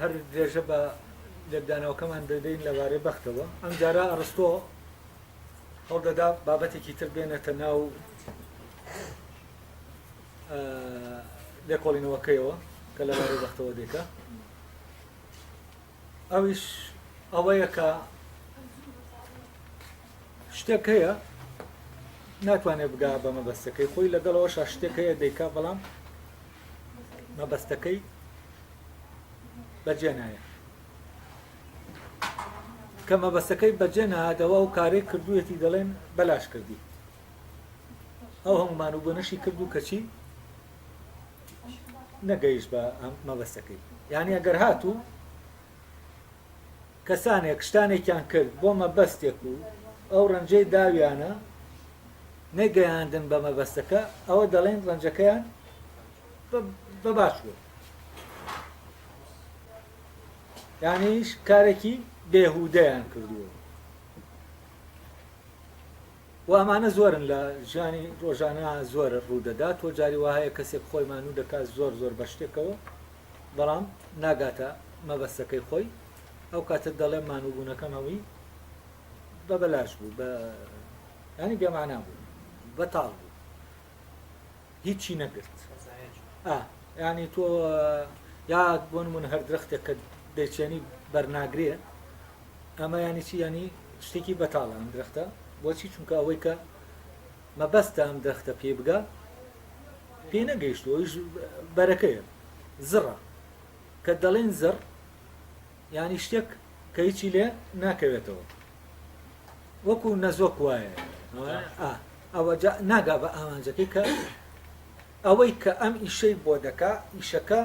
هەر درێژە بە لێکدانەوەکەمان دەدەین لەبارەی بەختەوە ئەم جارە ئەڕستۆ هەڵدەدا بابەتێکی تر بێنێتە ناو لێکۆڵینەوەکەیەوە کە لەبارەی بەختەوە دێکە ئەویش ئەوەیە کە شتێک هەیە ناتوانێت بگا بە مەبەستەکەی خۆی لەگەڵەوەشا شتێک هەیە دەیکا بەڵام مەبەستەکەی بەجێ نایە کە مەبەستەکەی بەجێ نهاتەوە ئەو کارەی کردوەتی دەڵێن بەلاش کردی ئەو هەمومان و بۆنەشی کرد و کەچی نەگەیش بە مەبەستەکەی یعنی ئەگەر هاتوو کەسانێک شتانێکیان کرد بۆ مەبەستێک و ئەو ڕەنجەی داویانە نەگەیاندن بە مەبەستەکە، ئەوە دەڵێن ڕەنجەکەیان بە باش بووە. یانیش کارێکی بێهودەیان کردووە. و ئەمانە زۆرن لە ژیانی ڕۆژانە زۆر ڕوودەدات و جاری وهەیە کەسێک خۆی مانوو دەکات زۆر زۆر بە شتێکەوە بەڵام ناگاتە مەبەستەکەی خۆی ئەو کاتە دەڵێ مانووبوونەکەم هەمووی بە بەلاش بوو بە ینی بێمانا بوو بەتاڵ بوو هیچی نەگرت ئا یانی تۆ یا بۆ نمونە هەر درەختێک کە دەیچێنی بەرناگرێ ئەمە ینی چی ینی شتێکی بەتاڵە ئەم درەختە بۆچی چونکە ئەوەی کە مەبەستە ئەم درەختە پێ بگا پێ نەگەیشتوەش بەرەکەیە زڕە کە دەڵێن زڕ یانی شتێک کە هیچی لێ ناکەوێتەوە وەکو نەزۆک وایە ئەوە ناگا بە ئامانجەکەی کە ئەوەی کە ئەم ئیشەی بۆ دەکا ئیشەکە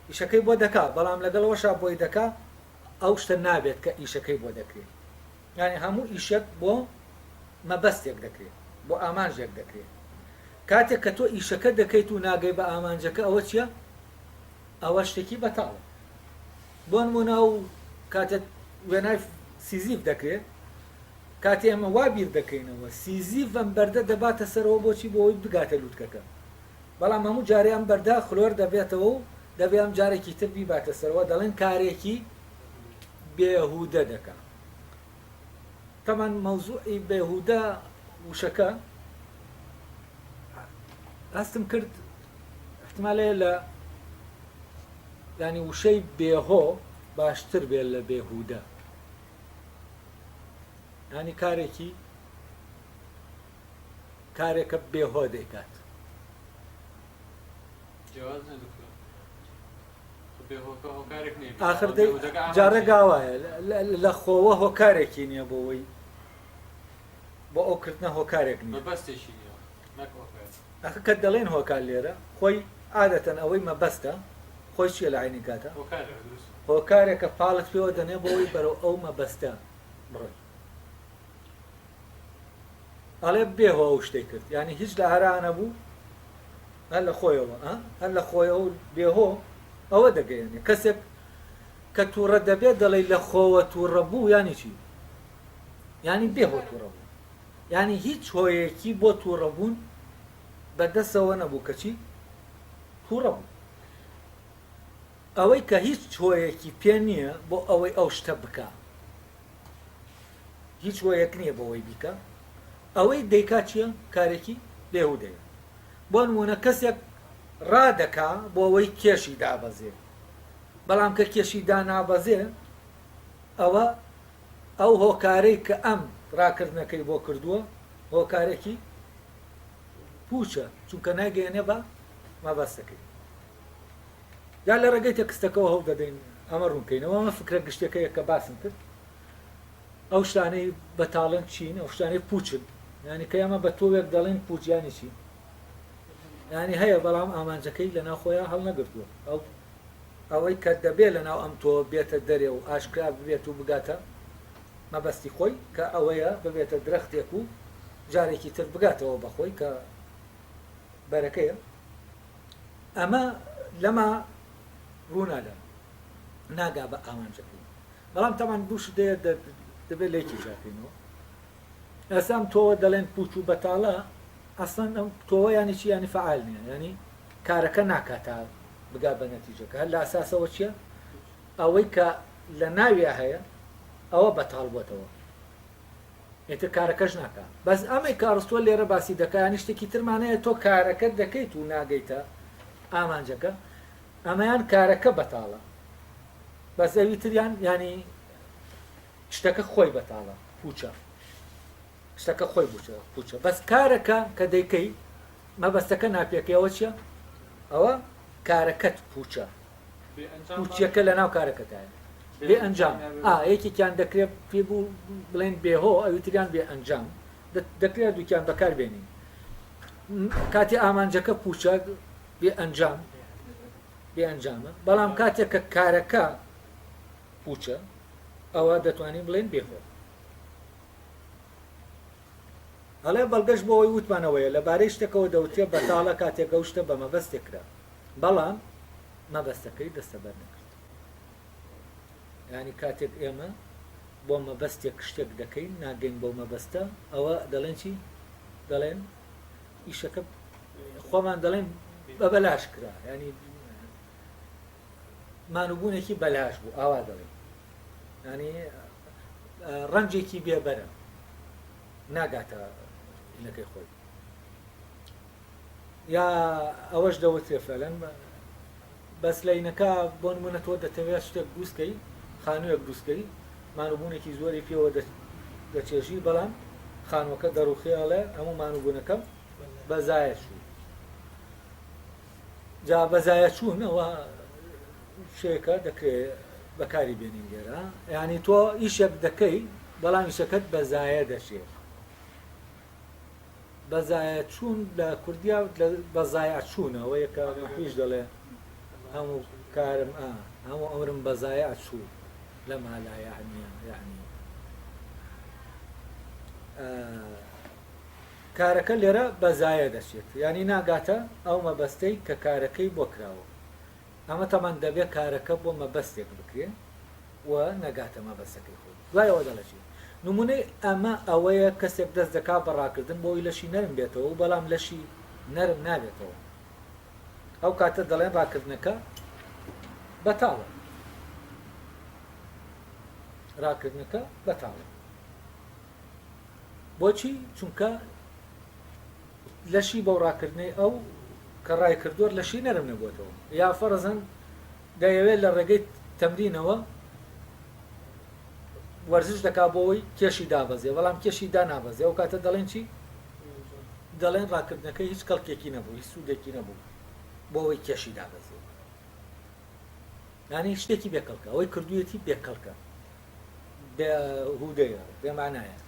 ئیشەکەی بۆ دەکا بەڵام لەگەڵەوەشا بۆی دەکا ئەو شتە نابێت کە ئیشەکەی بۆ دەکرێت یعنی هەموو ئیشێک بۆ مەبەستێک دەکرێت بۆ ئامانژێک دەکرێت کاتێک کە تۆ ئیشەکە دەکەیت و ناگەی بە ئامانجەکە ئەوە چییە ئەوە شتێکی بەتاڵە بۆ نمونە و کاتێک وێنای سیزیف دەکرێت کاتی ئەمە وا بیر دەکەینەوە سیزیف ئەم بەردە دەباتە سەرەوە بۆچی بۆی بگاتە لووتکەکە بەڵام هەموو جارێ ئەم بەردە خلۆر دەبێتەوە و دەبێ ئەم جارێکی تر بیباتە سەرەوە دەڵێن کارێکی بێهودە دەکات تەبعەن مەوزوعی بێهودە وشەکە هەستم کرد احتمالێ لە ینی وشەی بێهۆ باشتر بێ لە بێهودە ینی کارێکی کارێکە بێهۆ دەیکات ئاخر جارێک گاوایە لە خۆوە هۆکارێکی نییە بۆ ئەوی بۆ ئەو کردنە هۆکارێک بەستێکی ئەخ کە دەڵێن هۆکار لێرە خۆی عادەتەن ئەوەی مەبەستە خۆی چیە لە عینی کاتە هۆکارێکە پاڵت پێوە دەنێ بۆی بەرەو ئەو مەبەستە بڕۆی ئەڵێ بێهۆ ئەو شتێک کرد ینی هیچ لە ئارانە بوو هەر لە خۆیەوە ئە هەر لە خۆیەوە و بێ هۆ ئەوە دەگەیەنێ کەسێک کە تووڕە دەبێت دەڵێی لە خۆوە تووڕە بوو یانی چی یانی بێ هۆ تووڕە بوو یانی هیچ هۆیەکی بۆ تووڕە بوون بەدەسەوە نەبوو کەچی تووڕە بوو ئەوەی کە هیچ هۆیەکی پێ نییە بۆ ئەوەی ئەو شتە بکە هیچ هۆیەک نییە بۆەوەی بیکە ئەوەی دەیکا چییە کارێکی بێهودەیە بۆ نموونە کەسێک ڕادەکا بۆ ئەوەی کێشی دابەزێ، بەڵام کە کێشی دانابەزێ ئەوە ئەو هۆکارەی کە ئەم ڕاکردنەکەی بۆ کردووە هۆکارێکی پووچە چونکە نایگەیەنێ بە مەبەستەکەی. جا لە ڕێگەی تێکستەکەوە هەوڵ دەدەین ئەمە ڕوون کەینەوە، ئەمە فکرە گشتیەکەیە کە باسم کرد. ئەو شتانەی بەتاڵن چین ئەو شتانەی پوچن یعنی کە ئەمە بە تۆوێک دەڵێن پوچیانی چین یعنی هەیە بەڵام ئامانجەکەی لە ناوخۆیان هەڵنەگرتووە ئەو ئەوەی کە دەبێ لە ناو ئەم تۆ بێتە دەرێ و ئاشکرا ببێت و بگاتە مەبەستی خۆی کە ئەوەیە ببێتە درەختێک و جارێکی تر بگاتەوە بەخۆی کە بەرەکەیە ئەمە لەما ڕوونادا ناگا بە ئامانجەکەی بەڵام تەبعەن بوش دەیە دە دەبێت لە یەکی جیاکەینەوە ئێستا ئەم تۆوە دەڵێن پوچ و بەتاڵە ئەسڵەن ئەم تۆوە یانی چی یانی فعال نیە یانی کارەکە ناکات تا بگا بە نەتیجەکە هەر لە ئاساسەوە چییە ئەوەی کە لە ناویا هەیە ئەوە بەتاڵ بووتەوە ئێتە کارەکەش ناکە بەس ئەمەی کارستوە لێرە باسی دەکانی شتێکی ترمانەیە تۆ کارەکە دەکەیت و ناگەیتە ئامانجەکە ئەمەیان کارەکە بەتاڵە بەس ئەوی تریان ینی شتەکە خۆی بەتاڵە پوچە شتەکە خۆی بچە پوچە بەس کارەکە کە دەیکەی مەبەستەکە ناپێکەوە چیە ئەوە کارەکەت پوچە پوچیەکە لە ناو کارەکەتایە بێ ئەنجام یەکێکیان دەکرێت پێ بوو بڵێن بێهۆ ئەویتریان بێ ئەنجام دەکرێت دووکیان بەکار بێنین کاتی ئامانجەکە پوچە بێ ئەنجام بێ ئەنجامە، بەڵام کاتێک کە کارەکە پووچە ئەوە دەتوانین بڵێین بێ هۆ. هەڵێ بەڵگەش بۆ ئەوی وتمانەوەیە لەبارەی شتەکەەوە دەوترێ بەتاڵە کاتێک ئەو شتە بە مەبەستێک کرا بەڵام مەبەستەکەی دەستەبەر نەکرد ینی کاتێک ئێمە بۆ مەبەستێک شتێک دەکەین ناگەین بۆ مەبەستە ئەوە دەڵێن چی دەڵێن ئیشەکە خۆمان دەڵێن بە بەلاش کرا ینی مانوبوونێکی بەلاش بوو ئاوا دەڵێن ینی ڕەنجێکی بێبەرە ناگاتە نەکەی خۆی یا ئەوەش دەوتێ فەلەن بەس لەینەکە بۆ نمونە تۆ دەتەوێت شتێک دروست کەی خانویەک دروست کەی مانو بونێکی زۆری پێوە دەچێژی بەڵام خانوەکە دەڕوخێ ئەڵێ هەموو مانو بونەکەم بەزایە چوو جا بەزایە چوون ئەوە شێکە دەکرێت بەکاری بێنین لێرە ینی تۆ ئیشێک دەکەی بەڵام ئیشەکەت بەزایە دەچێت بەزایە چوون لە کوردیا بە زایە چوونەوە یەکە مەحویش دەڵێ هەموو کارم ئا هەموو ئەمرم بە زایە چوو لە مالایە هەنیە یعنی کارەکە لێرە بە زایە دەچێت ینی ناگاتە ئەو مەبەستەی کە کارەکەی بۆ کراوە ئەمەتەمان دەبێ کارەکە بۆ مەبەستێک بکرێ و نەگاتە مەبەستەکەی خۆی. دوای ئەوە دەڵێتیی، نموونەی ئەمە ئەوەیە کەسێک دەست دەکا بە ڕاکردن بۆ ئەوەی لەشی نەرم بێتەوە و بەڵام لەشی نەرم نابێتەوە، ئەو کاتە دەڵێن ڕاکردنەکە بەتاڵە. ڕاکردنەکە بەتاڵە. بۆچی چونکە لەشی بەو ڕاکردنەی ئەو کە ڕای کردوەر لەشی نەرم نەبووەتەوە یا فەرزەن دەیەوێت لە ڕێگەی تەمرینەوە وەرزش دەکا بۆەوەی کێشی دابەزێ بەڵام کێشی دا نابەزێ ئەو کاتە دەڵێن چی دەڵێن ڕاکردنەکە هیچ کەڵکێکی نەبوو هیچ سوودێکی نەبوو بۆەوەی کێشی دابەزێ یانی شتێکی بێکەڵکە ئەوەی کردویەتی بێکەڵکە بێ هودەیە بێمانایە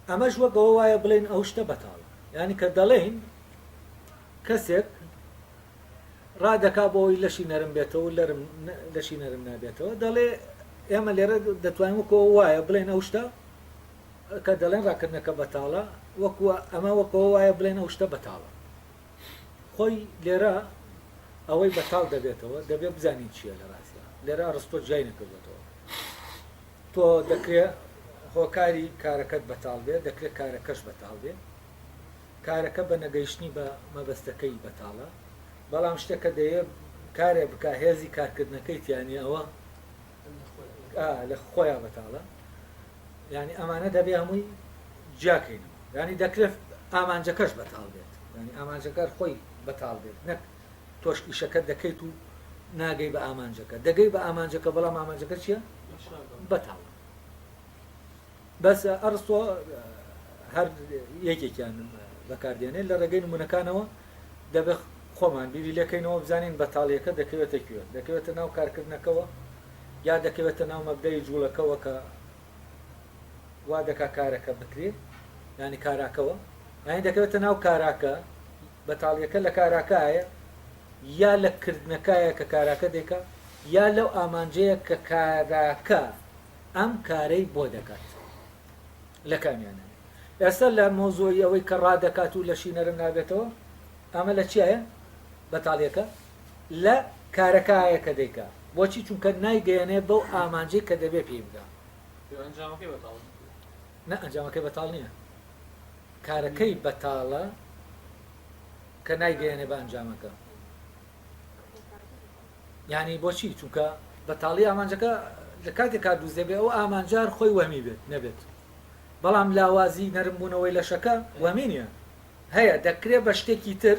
ئەمەش وەک ئەوە وایە بڵێن ئەو شتە بەتاڵە ینی کە دەڵێن کەسێک ڕادەکا بۆەوەی لەشی نەرم بێتەوە لەرم لەشی نەرم نابێتەوە دەڵێ ئێمە لێرە دەتوانین وەکۆ وایە بڵێن ئەو شتە کە دەڵێن ڕاکردنەکە بەتاڵە وەکووە ئەمە وەکەوە وایە بڵێن ئەو شتە بەتاڵە خۆی لێرە ئەوەی بەتاڵ دەبێتەوە دەبێت بزانین چییە لە ڕاستە لێرە ڕستۆ جیای نەکردێتەوە تۆ دەکرێت هۆکاری کارەکەت بەتاڵ بێت دەکرێت کارەکەش بەتاڵ بێت کارەکە بە نەگەیشتنی بە مەبەستەکەی بەتاڵە بەڵام شتەکە دەیە کارێ بک هێزی کارکردنەکەی تیانی ئەوە لە خۆیان بەتاڵە یانی ئەمانە دەبێ هەمووی جیا کەینەوە یانی دەکرێت ئامانجەکەش بەتاڵ بێت یانی ئامانجەکار خۆی بەتاڵ بێت نەک تۆش ئیشەکە دەکەیت و ناگەی بە ئامانجەکە دەگەی بە ئامانجەکە بەڵام ئامانجەکە چییە بەتاڵ بەس ئەرسۆ هەر یەکێکیان بەکاردێنێ لە ڕێگەی نمونونەکانەوە دەبێت خۆمان بیری لەکەینەوە بزانین بەتاڵیەکە دەکەوێتە کوێ دەکەوێتە ناو کارکردنەکەەوە یا دەکەوێتە ناو مەبدەئی جوڵەکەوە کە وا دەکا کارەکە بکرێ یانی کاراکەوە یانی دەکەوێتە ناو کاراکە بەتاڵیەکە لە کاراکایە یا لە کردنەکایە کە کاراکە دێکە یا لەو ئامانجەیە کە کاراکە ئەم کارەی بۆ دەکات لە کامیانە ئێستا لە مۆزۆی ئەوەی کە ڕادەکات و لە شینەرم نابێتەوە ئەمە لە چیایە بەتاڵیەکە لە کارەکایە کە دەیکا بۆچی چونکە نایگەیەنێ بەو ئامانجەی کە دەبێ پێی بگا نە ئەنجامەکەی بەتاڵ نییە کارەکەی بەتاڵە کە نایگەیەنێ بە ئەنجامەکە ینی بۆچی چونکە بەتاڵی ئامانجەکە لە کاتێک کار دووزێ بێ ئەو ئامانجار خۆی وەمی بێت نەبێت بەڵام لاوازی نەرمبوونەوەی لەشەکە وەمینە هەیە دەکرێت بە شتێکی تر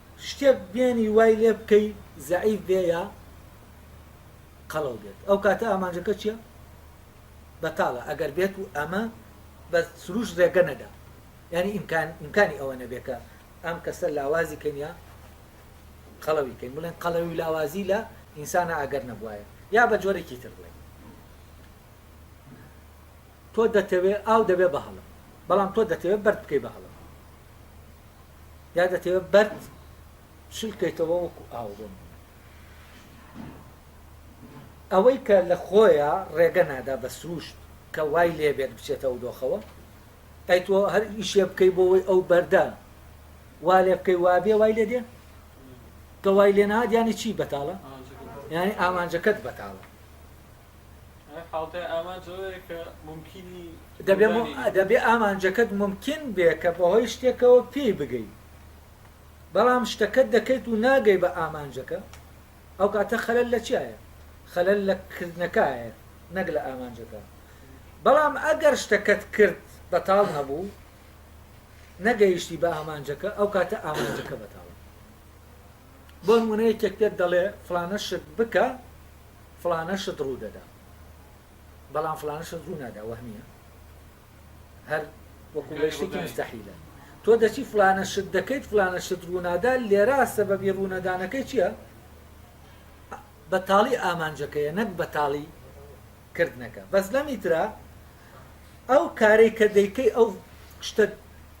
شتێک بێنی وای لێ بکەی زەعیف بێ یا قەڵەو بێت ئەو کاتە ئامانجەکە چییە بەتاڵە ئەگەر بێت و ئەمە بە سروش ڕێگە نەدا ینی ئیمکان ئیمکانی ئەوە نەبێکە ئەم کەسە لاوازی کەنیا قەڵەوی کەین بڵێن قەڵەوی لاوازی لە ئینسانە ئەگەر نەبواە یا بە جۆرێکی تر بڵێن تۆ دەتەوێت ئاو دەبێ بە هەڵم بەڵام تۆ دەتەوێت بەرد بکەی بە هەڵم یا دەتەوێت بەرد شل کەیتەوە وەکو ئاوڕۆن ئەوەی کە لە خۆیە ڕێگە نادا بە سروشت کە وای لێبێت بچێتە و دۆخەوە ئەی تۆ هەر ئیشێ بکەی بۆەوەی ئەو بەردە وا لێ بکەی وابێ وای لێ دێ کە وای لێ نادیانی چی بەتاڵە یعنی ئامانجەکەت بەتاڵە دەبێ ئامانجەکەت مومکین بێ کە بەهۆی شتێکەوە پێی بگەی بەڵام شتەکەت دەکەیت و ناگەی بە ئامانجەکە ئەو کاتە خەلەل لە چیایە خەلەل لە کردنەکایە نەک لە ئامانجەکە بەڵام ئەگەر شتەکەت کرد بەتاڵ نەبوو نەگەیشتی بە ئامانجەکە ئەو کاتە ئامانجەکە بەتاڵ بۆ نموونە یەکێک پێت دەڵێ فڵانە شت بکە فڵانە شت ڕوو دەدا بەڵام فڵانە شت ڕوو نادا وەهمیە هەر وەکو لەشتێکی مستەحیلە تۆ دەچی فلانە شت دەکەیت فلانە شت ڕوونادا لێرا سەبەبی ڕوونەدانەکەی چییە؟ بەتاڵی ئامانجەکەیە نەک بەتاڵی کردنەکە بەس لەمی ترا ئەو کارەی کە دەیکەی ئەو شتە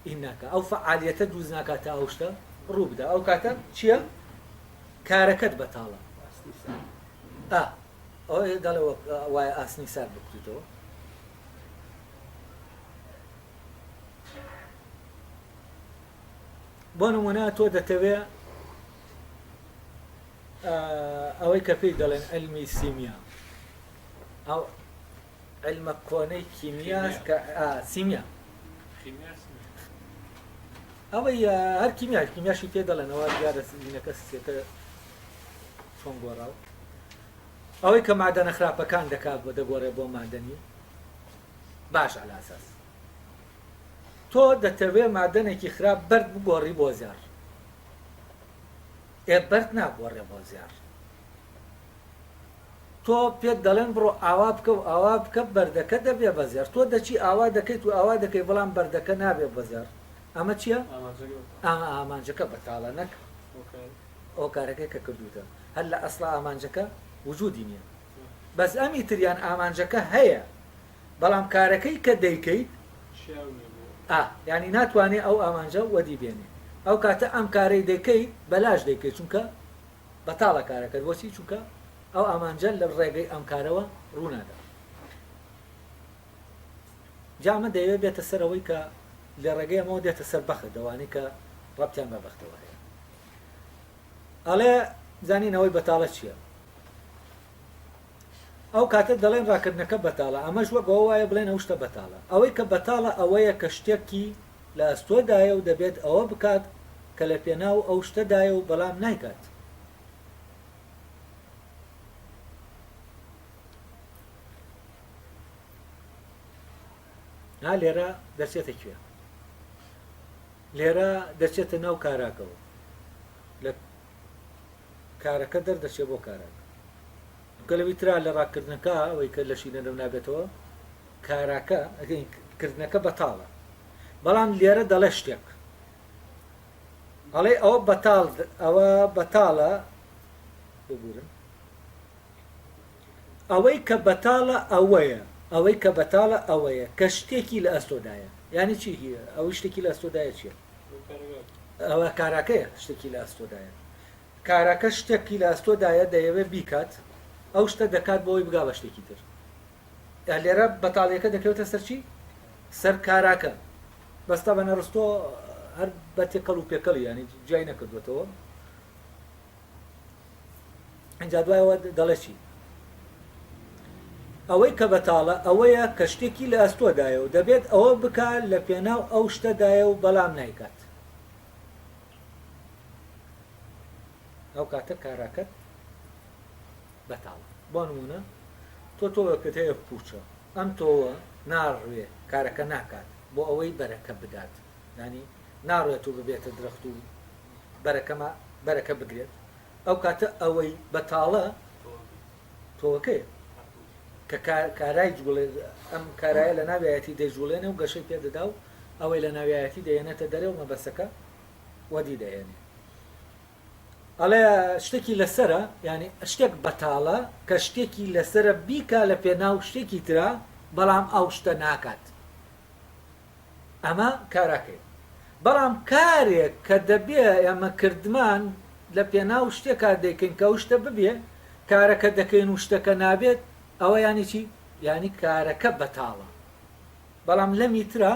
ئی ناکە ئەو فعالیەتە دووز ناکات تا ئەو شتە ڕوو بدا ئەو کاتە چییە کارەکەت بەتاڵە دەڵێ وای ئاسنی سار بکریتەوە بۆ نمونە تۆ دەتەوێ ئەوەی کە پێی دەڵێن علمی سیمیا ئەو علمە کۆنەی کیمیا کە سیمیا ئەوەی هەر کیمیا کیمیاشی پێ دەڵێنەوە دیارە سینەکە سێتە چۆن گۆڕاو ئەوەی کە مادەنە خراپەکان دەکات بۆ دەگۆڕێ بۆ مادەنی باش ئەلاساس تۆ دەتەوێ مادەنێکی خراپ بەرد بگۆڕی بۆ زیار ئێ بەرد ناگۆڕێ بۆ زێڕ تۆ پێت دەڵێن بڕۆ ئاوا بکە و ئاوا بکە بەردەکە دەبێ بە زێڕ تۆ دەچی ئاوا دەکەیت و ئاوا دەکەی بەڵام بەردەکە نابێ بە زێڕ ئەمە چییە؟ ئەمە ئامانجەکە بەتاڵە نەک ئەو کارەکەی کە کردوتە هەر لە ئەسڵ ئامانجەکە وجودی نییە بەس ئەمی تریان ئامانجەکە هەیە بەڵام کارەکەی کە دەیکەیت ئا یانی ناتوانێ ئەو ئامانجە وەدی بێنێ ئەو کاتە ئەم کارەی دەکەیت بەلاش دەیکەیت چونکە بەتاڵە کارەکەت بۆچی چونکە ئەو ئامانجە لە ڕێگەی ئەم کارەوە ڕوونادا جامە دەیەوێت بێتە سەر ئەوەی کە لە ڕێگەی ئەمەوە دێتە سەر بەخت دەوانەی کە ڕەتیان بە بەختەوە هەیە ئەڵێ زانینەوەی بەتاڵە چییە ئەو کاتە دەڵێن ڕاکردنەکە بەتاڵە ئەمەش وەک ئەوە وایە بڵێن ئەو شتە بەتاڵە ئەوەی کە بەتاڵە ئەوەیە کە شتێکی لە ئەستۆدایە و دەبێت ئەوە بکات کە لە پێناو ئەو شتەدایە و بەڵام نایکات ها لێرە دەچێتە کوێ لێرە دەچێتە ناو کاراکەوە لە کارەکە دەردەچێ بۆ کاراکە. کە لەوی ترا لە ڕاکردنەکە ئەوەی کە لەشی نەرەو نابێتەوە کاراکە ئەگەین کردنەکە بەتاڵە بەڵام لێرە دەڵێ شتێک ئەڵێ ئەوە بەتاڵ ئەوە بەتاڵە ببورن ئەوەی کە بەتاڵە ئەوەیە ئەوەی کە بەتاڵە ئەوەیە کە شتێکی لە ئەستۆدایە یعنی چی ئەوەی شتێکی لە ئەستۆدایە چیە ئەوە کاراکەیە شتێکی لە ئەستۆدایە کاراکە شتێکی لە ئەستۆدایە دەیەوێت بیکات ئەو شتە دەکات بۆی بگا بە شتێکی تر لێرە بەتاڵیەکە دەکەوتە سەرچی سەر کاراکە بەستا بە نەڕستۆ هەر بە تێکەڵ و پێکەڵی ینی جای نەکردوێتەوە ئەجا دوایەوە دەڵێ چی ئەوەی کە بەتاڵە ئەوەیە کە شتێکی لە ئەستۆدایە و دەبێت ئەوە بکە لە پێناو ئەو شتەدایە و بەڵام نایکات ئەو کاتە کاراکەت بەتاڵە بۆ نمونە تۆ تۆوەکەت هەیە پوچە ئەم تۆوە ناڕوێ کارەکە ناکات بۆ ئەوەی بەرەکە بدات ینی ناڕێت و ببێتە درەخت و بەرەکەما بەرەکە بگرێت ئەو کاتە ئەوەی بەتاڵە تۆوەکەیە کە کا کارای جوڵێ ئەم کارایە لە ناویایەتی دەیجوڵێنێ و گەشەی پێدەدا و ئەوەی لە ناویایەتی دەیەنێتە دەرێ و مەبەسەکە وەدی دەهێنێ ئەڵێ شتێکی لەسرە ینی شتێک بەتاڵە کە شتێکی لەسرە بیکا لە پێناو شتێکی ترا بەڵام ئەو شتە ناکات ئەمە کاراکەی بەڵام کارێک کە دەبێ ئێمە کردمان لە پێناو شتێکا دەیکەین کە ئەو شتە ببێ کارەکە دەکەین و شتەکە نابێت ئەوە یانی چی یانی کارەکە بەتاڵە بەڵام لەمی ترا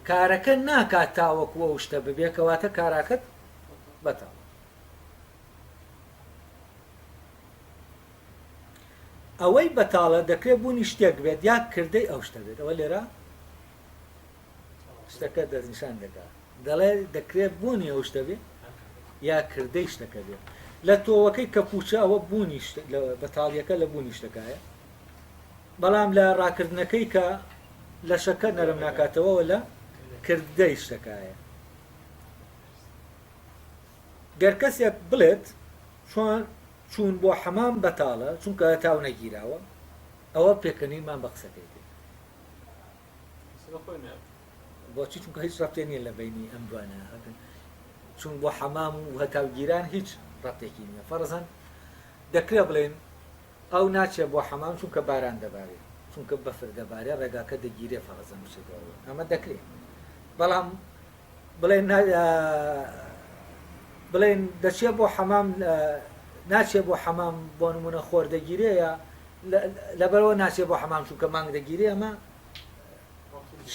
کارەکە ناکات تاوەکو ئەو شتە ببێ کەواتە کاراکەت بەتاڵە ئەوەی بەتاڵە دەکرێت بوونی شتێک بێت یا کردەی ئەو شتە بێت ئەوە لێرە شتەکە دەستنیشان دەکا دەڵێ دەکرێت بوونی ئەو شتە بێت یا کردەی شتەکە بێت لە تۆوەکەی کە پوچە ئەوە بوونی بەتاڵیەکە لە بوونی شتەکایە بەڵام لە ڕاکردنەکەی کە لە شەکە نەرم ناکاتەوە لە کردەی شتەکایە گەر کەسێک بڵێت چۆن چوون بۆ حەمام بەتاڵە چونکە تاو نەگیراوە ئەوە پێکەنینمان بە قسەکەی کرد بۆچی چونکە هیچ ڕەتێ نیە لە بینی ئەم دوانە چون بۆ حەمام و هەتاوگیران هیچ ڕەتێکی نیە فەرزەن دەکرێ بڵێن ئەو ناچێ بۆ حەمام چونکە باران دەبارێ چونکە بەفر دەبارێ ڕێگاکە دەگیرێ فەرزەن بچێتەوە ئەمە دەکرێت بەڵام بڵێین دەچێ بۆ حەمام ناچێ بۆ حەمام بۆ نمونە خۆر دەگیرێە لەبەرەوە ناچێ بۆ حەمام چووکە مانگ دەگیری ئەمە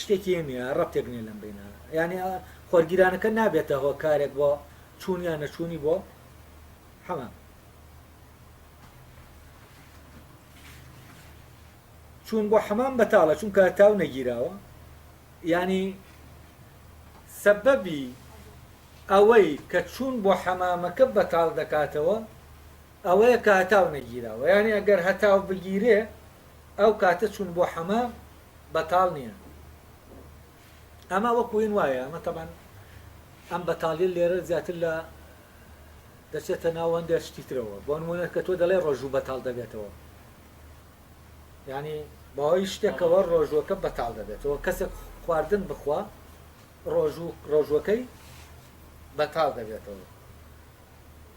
شتێکی نیە ڕەتێک نیە لەم بینە یعنی خۆرگیرانەکە نابێتە هۆ کارێک بۆ چوونیان نەچوونی بۆ حەمام چوون بۆ حەمام بەتاڵە چونکە تاو نەگیراوە یانی سەبەبی ئەوەی کە چوون بۆ حەمامەکە بەتاڵ دەکاتەوە ئەوەیە کە هەتاو نەگیراوە یانی ئەگەر هەتاو بگیرێ ئەو کاتە چوون بۆ حەمام بەتاڵ نییە ئەمە وەکو وین وایە ئەمە تەبەن ئەم بەتاڵی لێرە زیاتر لە دەچێتە ناو هەندێک شتی ترەوە بۆ نمونە کە تۆ دەڵێ ڕۆژوو بەتاڵ دەبێتەوە یانی بەهۆی شتێکەوە ڕۆژووەکە بەتاڵ دەبێتەوە کەسێک خواردن بخوا ڕۆژوو ڕۆژووەکەی بەتاڵ دەبێتەوە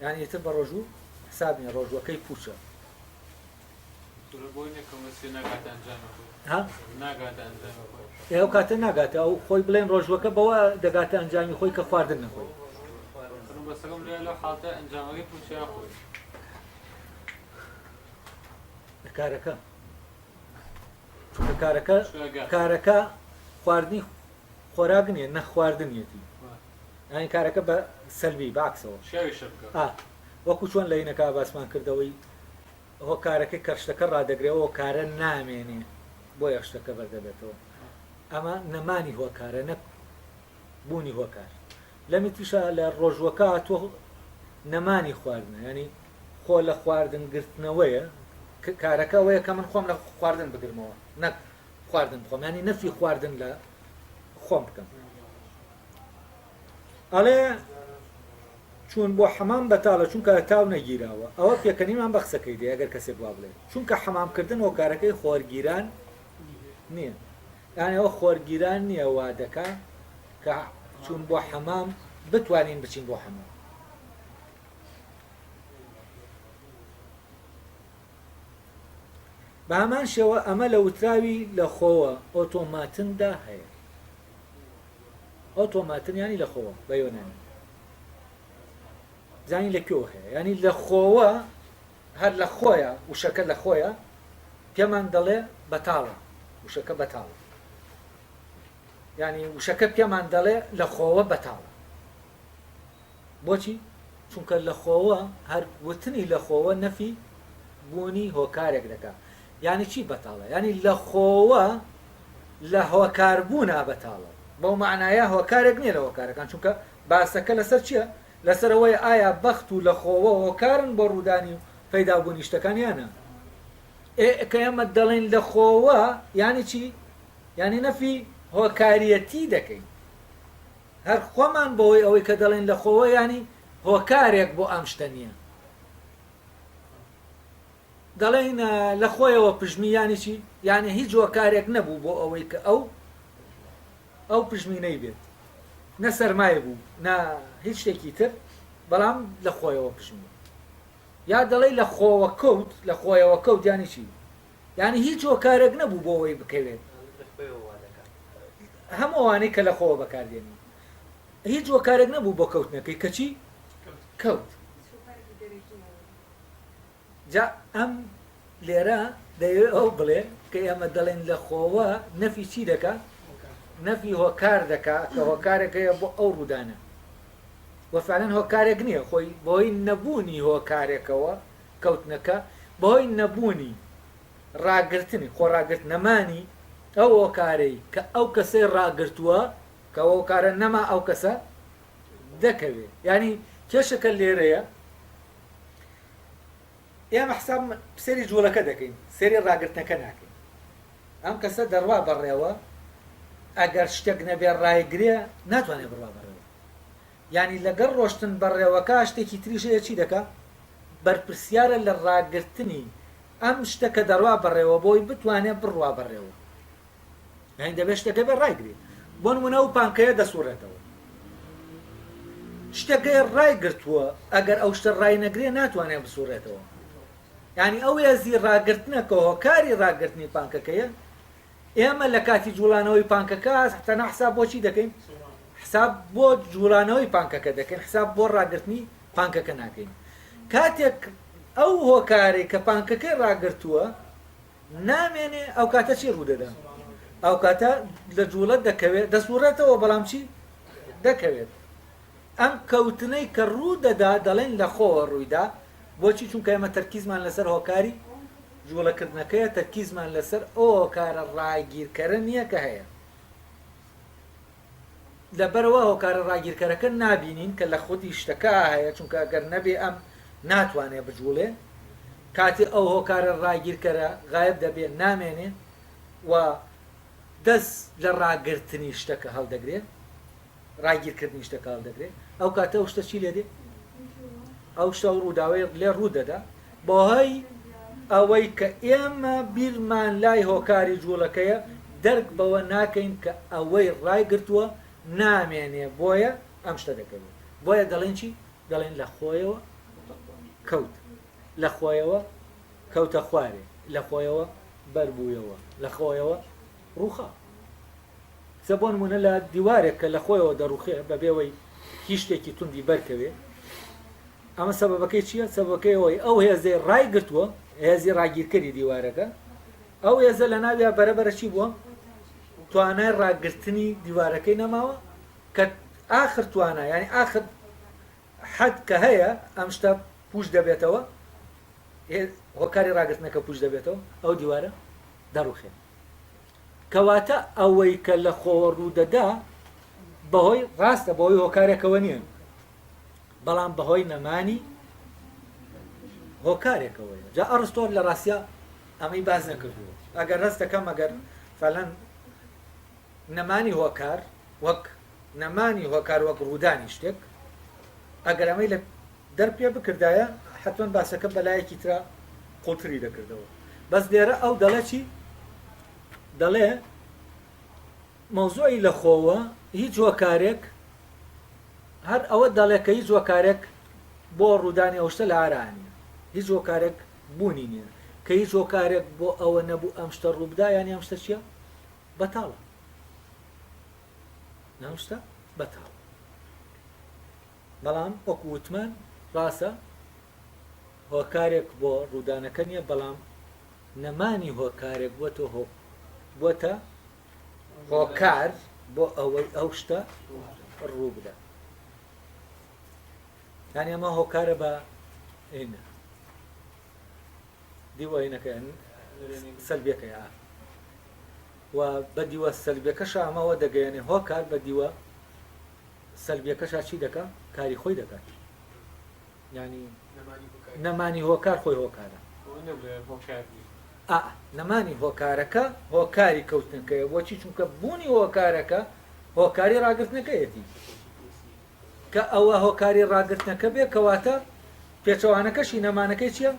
یان ئیتر بە ڕۆژوو حساب نیە ڕۆژووەکەی پوچە ئێو کاتە ناگاتە ئەو خۆی بڵێن ڕۆژوەکە بەوە دەگاتە ئەنجامی خۆی کە خواردن نەخۆی کارەکە چونکە کارەکە کارەکە خواردنی خۆراک نیە نەخواردنیەتی ئەین کارەکە بە سەلبی باکسەوە وەکو چۆن لە ینەکە باسمان کردەوەی هۆ کارەکە کەشتەکە ڕدەگرەوە کارە نامێنێ بۆ یەشتەکە بەردەبێتەوە ئەمە نەمانی هۆکارە نەک بوونی هۆکار لەمیتیشە لە ڕۆژوەکە هاتووە نەمانی خواردنە ینی خۆ لە خواردن گرتنەوەیە کارەکە ئەوەیە کە من خۆم لە خواردن بگرمەوە نەک خواردن بخۆم ینی نەفی خواردن لە خۆم بکەم ئەڵێ چون بۆ حەمام بەتاڵە چونکە تاو نەگیراوە ئەوە پێکەنیمان بە قسەکەی دێ ئەگەر کەسێک وا بڵێت چونکە حەمامکردن هۆکارەکەی خۆرگیران نییە یانی ئەوە خۆرگیران نیە وادەکا کە چوون بۆ حەمام بتوانین بچین بۆ حەمام. بە هەمان شێوە ئەمە لە وتراوی لە خۆوە ئۆتۆماتندا هەیە ئۆتۆماتنیانی لە خۆوە بە یۆنانی زانی لە کوێوە هەیە ینی لە خۆوە هەر لە خۆیە وشەکە لە خۆیە پێمان دەڵێ بەتاڵە وشەکە بەتاڵە یعنی وشەکە پێمان دەڵێ لە خۆوە بەتاڵە بۆچی چونکە لە خۆوە هەر وتنی لە خۆوە نەفی بوونی هۆکارێک دەکا یعنی چی بەتاڵە یعنی لە خۆوە لە هۆکاربوونا بەتاڵە بەو معناە هۆکارێک نییە لە هۆکارەکان چونکە باسەکە لەسەر چییە لەسەر ئەوەی ئایا بەخت و لەخۆوە هۆکارن بۆ ڕوودانی و پەیدابوونی شتەکان یان نا. ئێ کە ئێمە دەڵێین لەخۆوە یانی چی؟ یانی نەفی هۆکاریەتی دەکەین. هەر خۆمان بەهۆی ئەوەی کە دەڵێین لەخۆوە یانی هۆکارێک بۆ ئەم شتە نییە. دەڵێین لەخۆیەوە پژمی یانی چی؟ یانی هیچ هۆکارێک نەبوو بۆ ئەوەی کە ئەو ئەو پژمینەی بێت نە سەرمای بوو نە هیچ شتێکی تر بەڵام لە خۆیەوە پژمی یا دەڵێی لە خۆوە کەوت لە خۆیەوە کەوت یانی چی یعنی هیچ هۆکارێک نەبوو بۆ ئەوەی بکەوێت هەم ئەوانەی کە لە خۆوە بەکاردێنی هیچ هۆکارێک نەبوو بۆ کەوتنەکەی کەچی کەوت جا ئەم لێرە دەیەوێ ئەوە بڵێ کە ئێمە دەڵێن لە خۆوە نەفی چی دەکا؟ نەفی هۆکار دەکا کە هۆکارێک هەیە بۆ ئەو ڕوودانە وە فعلەن هۆکارێک نییە خۆی بۆی نەبوونی هۆکارێکەوە کەوتنەکە بەهۆی نەبوونی ڕاگرتنی خۆ ڕاگرت نەمانی ئەو هۆکارەی کە ئەو کەسەی ڕاگرتووە کە هۆکارە نەما ئەو کەسە دەکەوێ یعنی کێشەکە لێرەیە ئێمە حساب سەری جوڵەکە دەکەین سەری ڕاگرتنەکە ناکەین ئەم کەسە دەڕوا بەڕێوە ئەگەر شتێک نەبێ ڕایگرێ ناتوانێت بڕوا بەڕێوە ینی لەگەڵ ڕۆشتن بەڕێوەکە شتێکی تریشەیە چی دەکە بەرپرسیارە لە ڕاگرتنی ئەم شتەکە دەڕوا بەڕێوە بۆی بتوانێت بڕوا بەڕێوە یعنی دەبێت شتەکە بێ ڕایگرێت بۆ نمونە و پانکەیە دەسوڕێتەوە شتەکەی ڕای گرتووە ئەگەر ئەو شتە ڕای نەگرێ ناتوانێت بسوڕێتەوە ینی ئەو هێزی ڕاگرتنە کە هۆکاری ڕاگررتنی پانکەکەیە ئێمە لە کاتی جوڵانەوەی پانکەکە هەستەنا حساب بۆچی دەکەین حساب بۆ جوڵانەوەی پانکەکە دەکەین حساب بۆ ڕاگررتنی پانکەکە ناکەین کاتێک ئەو هۆکارێک کە پانکەکەی ڕاگرتووە نامێنێ ئەوکاتە چی ڕوودەدا؟ ئەوکاتە لە جوڵە دەکەوێت دەسوڕێتەوە بەڵام چی دەکەوێت ئەم کەوتنەی کە ڕوو دەدا دەڵێن لە خۆوە ڕوویدا بۆچی چونکە ئێمە تەرکیزمان لەسەر هۆکاری جوڵەکردنەکەیە تەرکیزمان لەسەر ئەو هۆکارە ڕاگیرکەرە نییە کە هەیە لەبەرئەوە هۆکارە ڕاگیرکەرەکە نابینین کە لە خودی شتەکە هەیە، چونکە گەر نەبێ ئەم ناتوانێ بجووڵێ، کاتێ ئەو هۆکارە ڕاگیرکەرە غایب دەبێ نامێنێ و دەس لە ڕاگرتنی شتەکە هەڵدەگرێ، ڕاگیرکردنی شتەکە هەڵدەگرێ، ئەو کاتە ئەو شتە چی لێ دێ؟ ئەو شتە ئەو ڕووداوەی لێ ڕوو دەدا. بەهۆی ئەوەی کە ئێمە بیرمان لای هۆکاری جووڵەکەیە، دەرک بەوە ناکەین کە ئەوەی ڕایگرتووە نامێنێ، بۆیە ئەم شتە دەکەوێ. بۆیە دەڵێین چی؟ دەڵێین لە خۆیەوە کەوت، لە خۆیەوە کەوتە خوارێ، لە خۆیەوە بەربوویەوە، لە خۆیەوە ڕووخا. جا بۆ نموونە لە دیوارێک کە لە خۆیەوە دەڕووخێ بەبێ ئەوەی هیچ شتێکی توندی بەرکەوێ ئەمە سەبەبەکەی چییە؟ سەبەبەکەی ئەوەی ئەو هێزەی ڕای گرتووە هێزی ڕاگیرکەری دیوارەکە ئەو هێزە لە ناویا بەرەبەرە چی بووە؟ توانای ڕاگرتنی دیوارەکەی نەماوە کە ئاخر توانا یعنی ئاخر حەد کە هەیە ئەم شتە پوش دەبێتەوە هۆکاری ڕاگرتنەکە پوش دەبێتەوە ئەو دیوارە دەڕوخێت کەواتە ئەوەی کە لە خۆوە ڕوودەدا بەهۆی ڕاستە بەهۆی هۆکارێکەوە نییە بەڵام بەهۆی نەمانی هۆکارێکەوەی جا ئەڕستۆر لە ڕاستە ئەمەی باز نەکردووە ئەگەر ڕست دەکەم ئەگەر فەلەن نەمانی هۆکار وەک نەمانی هۆکار وەک ڕوودانی شتێک ئەگەر ئەمەی لە دەر پێ بکردایە حەتمەن باسەکەم بە لایەکی ترا قوڵتری دەکردەوە بەس لێرە ئەو دەڵێ چی دەڵێ مەوزوعی لەخۆوە هیچ هۆکارێک هەر ئەوە دەڵێ کە هیچ هۆکارێک بۆ ڕوودانی ئەوشتە لە ئارانە هیچ هۆکارێک بوونی نییە کە هیچ هۆکارێک بۆ ئەوە نەبوو ئەم شتە ڕووبدا یانی ئەم شتە چییە بەتاڵە ناوشتە بەتاڵە بەڵام وەکو وتمان ڕاستە هۆکارێک بۆ ڕوودانەکە نیە بەڵام نەمانی هۆکارێک بوەتە هۆ بوەتە هۆکار بۆ ئەوەی ئەو شتە ڕوو بدە یانی ئەمە هۆکارە بە ئینە دیوەینەکە سەلبیەکە یا و بە دیوە سەلبیەکەش ئەمەوە دەگەیەنێ هۆکار بە دیوە سەلبیەکەشا چی دەکا کاری خۆی دەکات ینی نەمانی هۆکار خۆی هۆکارە نەمانی هۆکارەکە هۆکاری کەوتنەکەی بۆچی چونکە بوونی هۆکارەکە هۆکاری ڕاگرتنەکەیەتی کە ئەوە هۆکاری ڕاگرتنەکە بێ کەواتە پێچەوانەکەشی نەمانەکەی چییە؟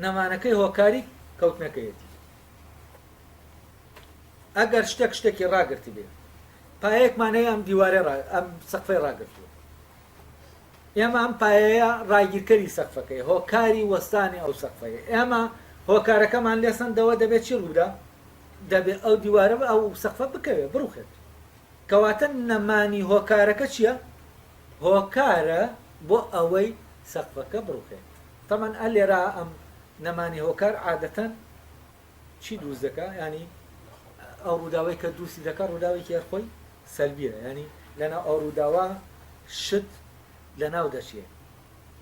نەمانەکەی هۆکاری کەوتنەکەیەتی ئەگەر شتێک شتێکی ڕاگررت بێ پایەیەکمان هەیە ئەم دیوارە ڕا... ئەم سەقفەی ڕاگرتووە ئێمە ئەم پایەیە ڕاگیرکەری سەقفەکەی هۆکاری وەستانی ئەو سەقفەیە ئێمە هۆکارەکەمان لێسەندەوە دەبێت چی ڕوودا دەبێت ئەو دیوارە ئەو سەقفە بکەوێت بڕوخێت کەواتە نەمانی هۆکارەکە چییە؟ هۆکارە بۆ ئەوەی سەقفەکە بڕوخێت تەمەەن ئە لێرا ئەم نەمانی هۆکار عادەتەن چی دروست دەکا یعنی ئەو ڕووداوەی کە دروستی دەکە ڕووداوێکی هەرخۆی سەلبیە ینی لەنا ئەو ڕووداوە شت لە ناو دەچێ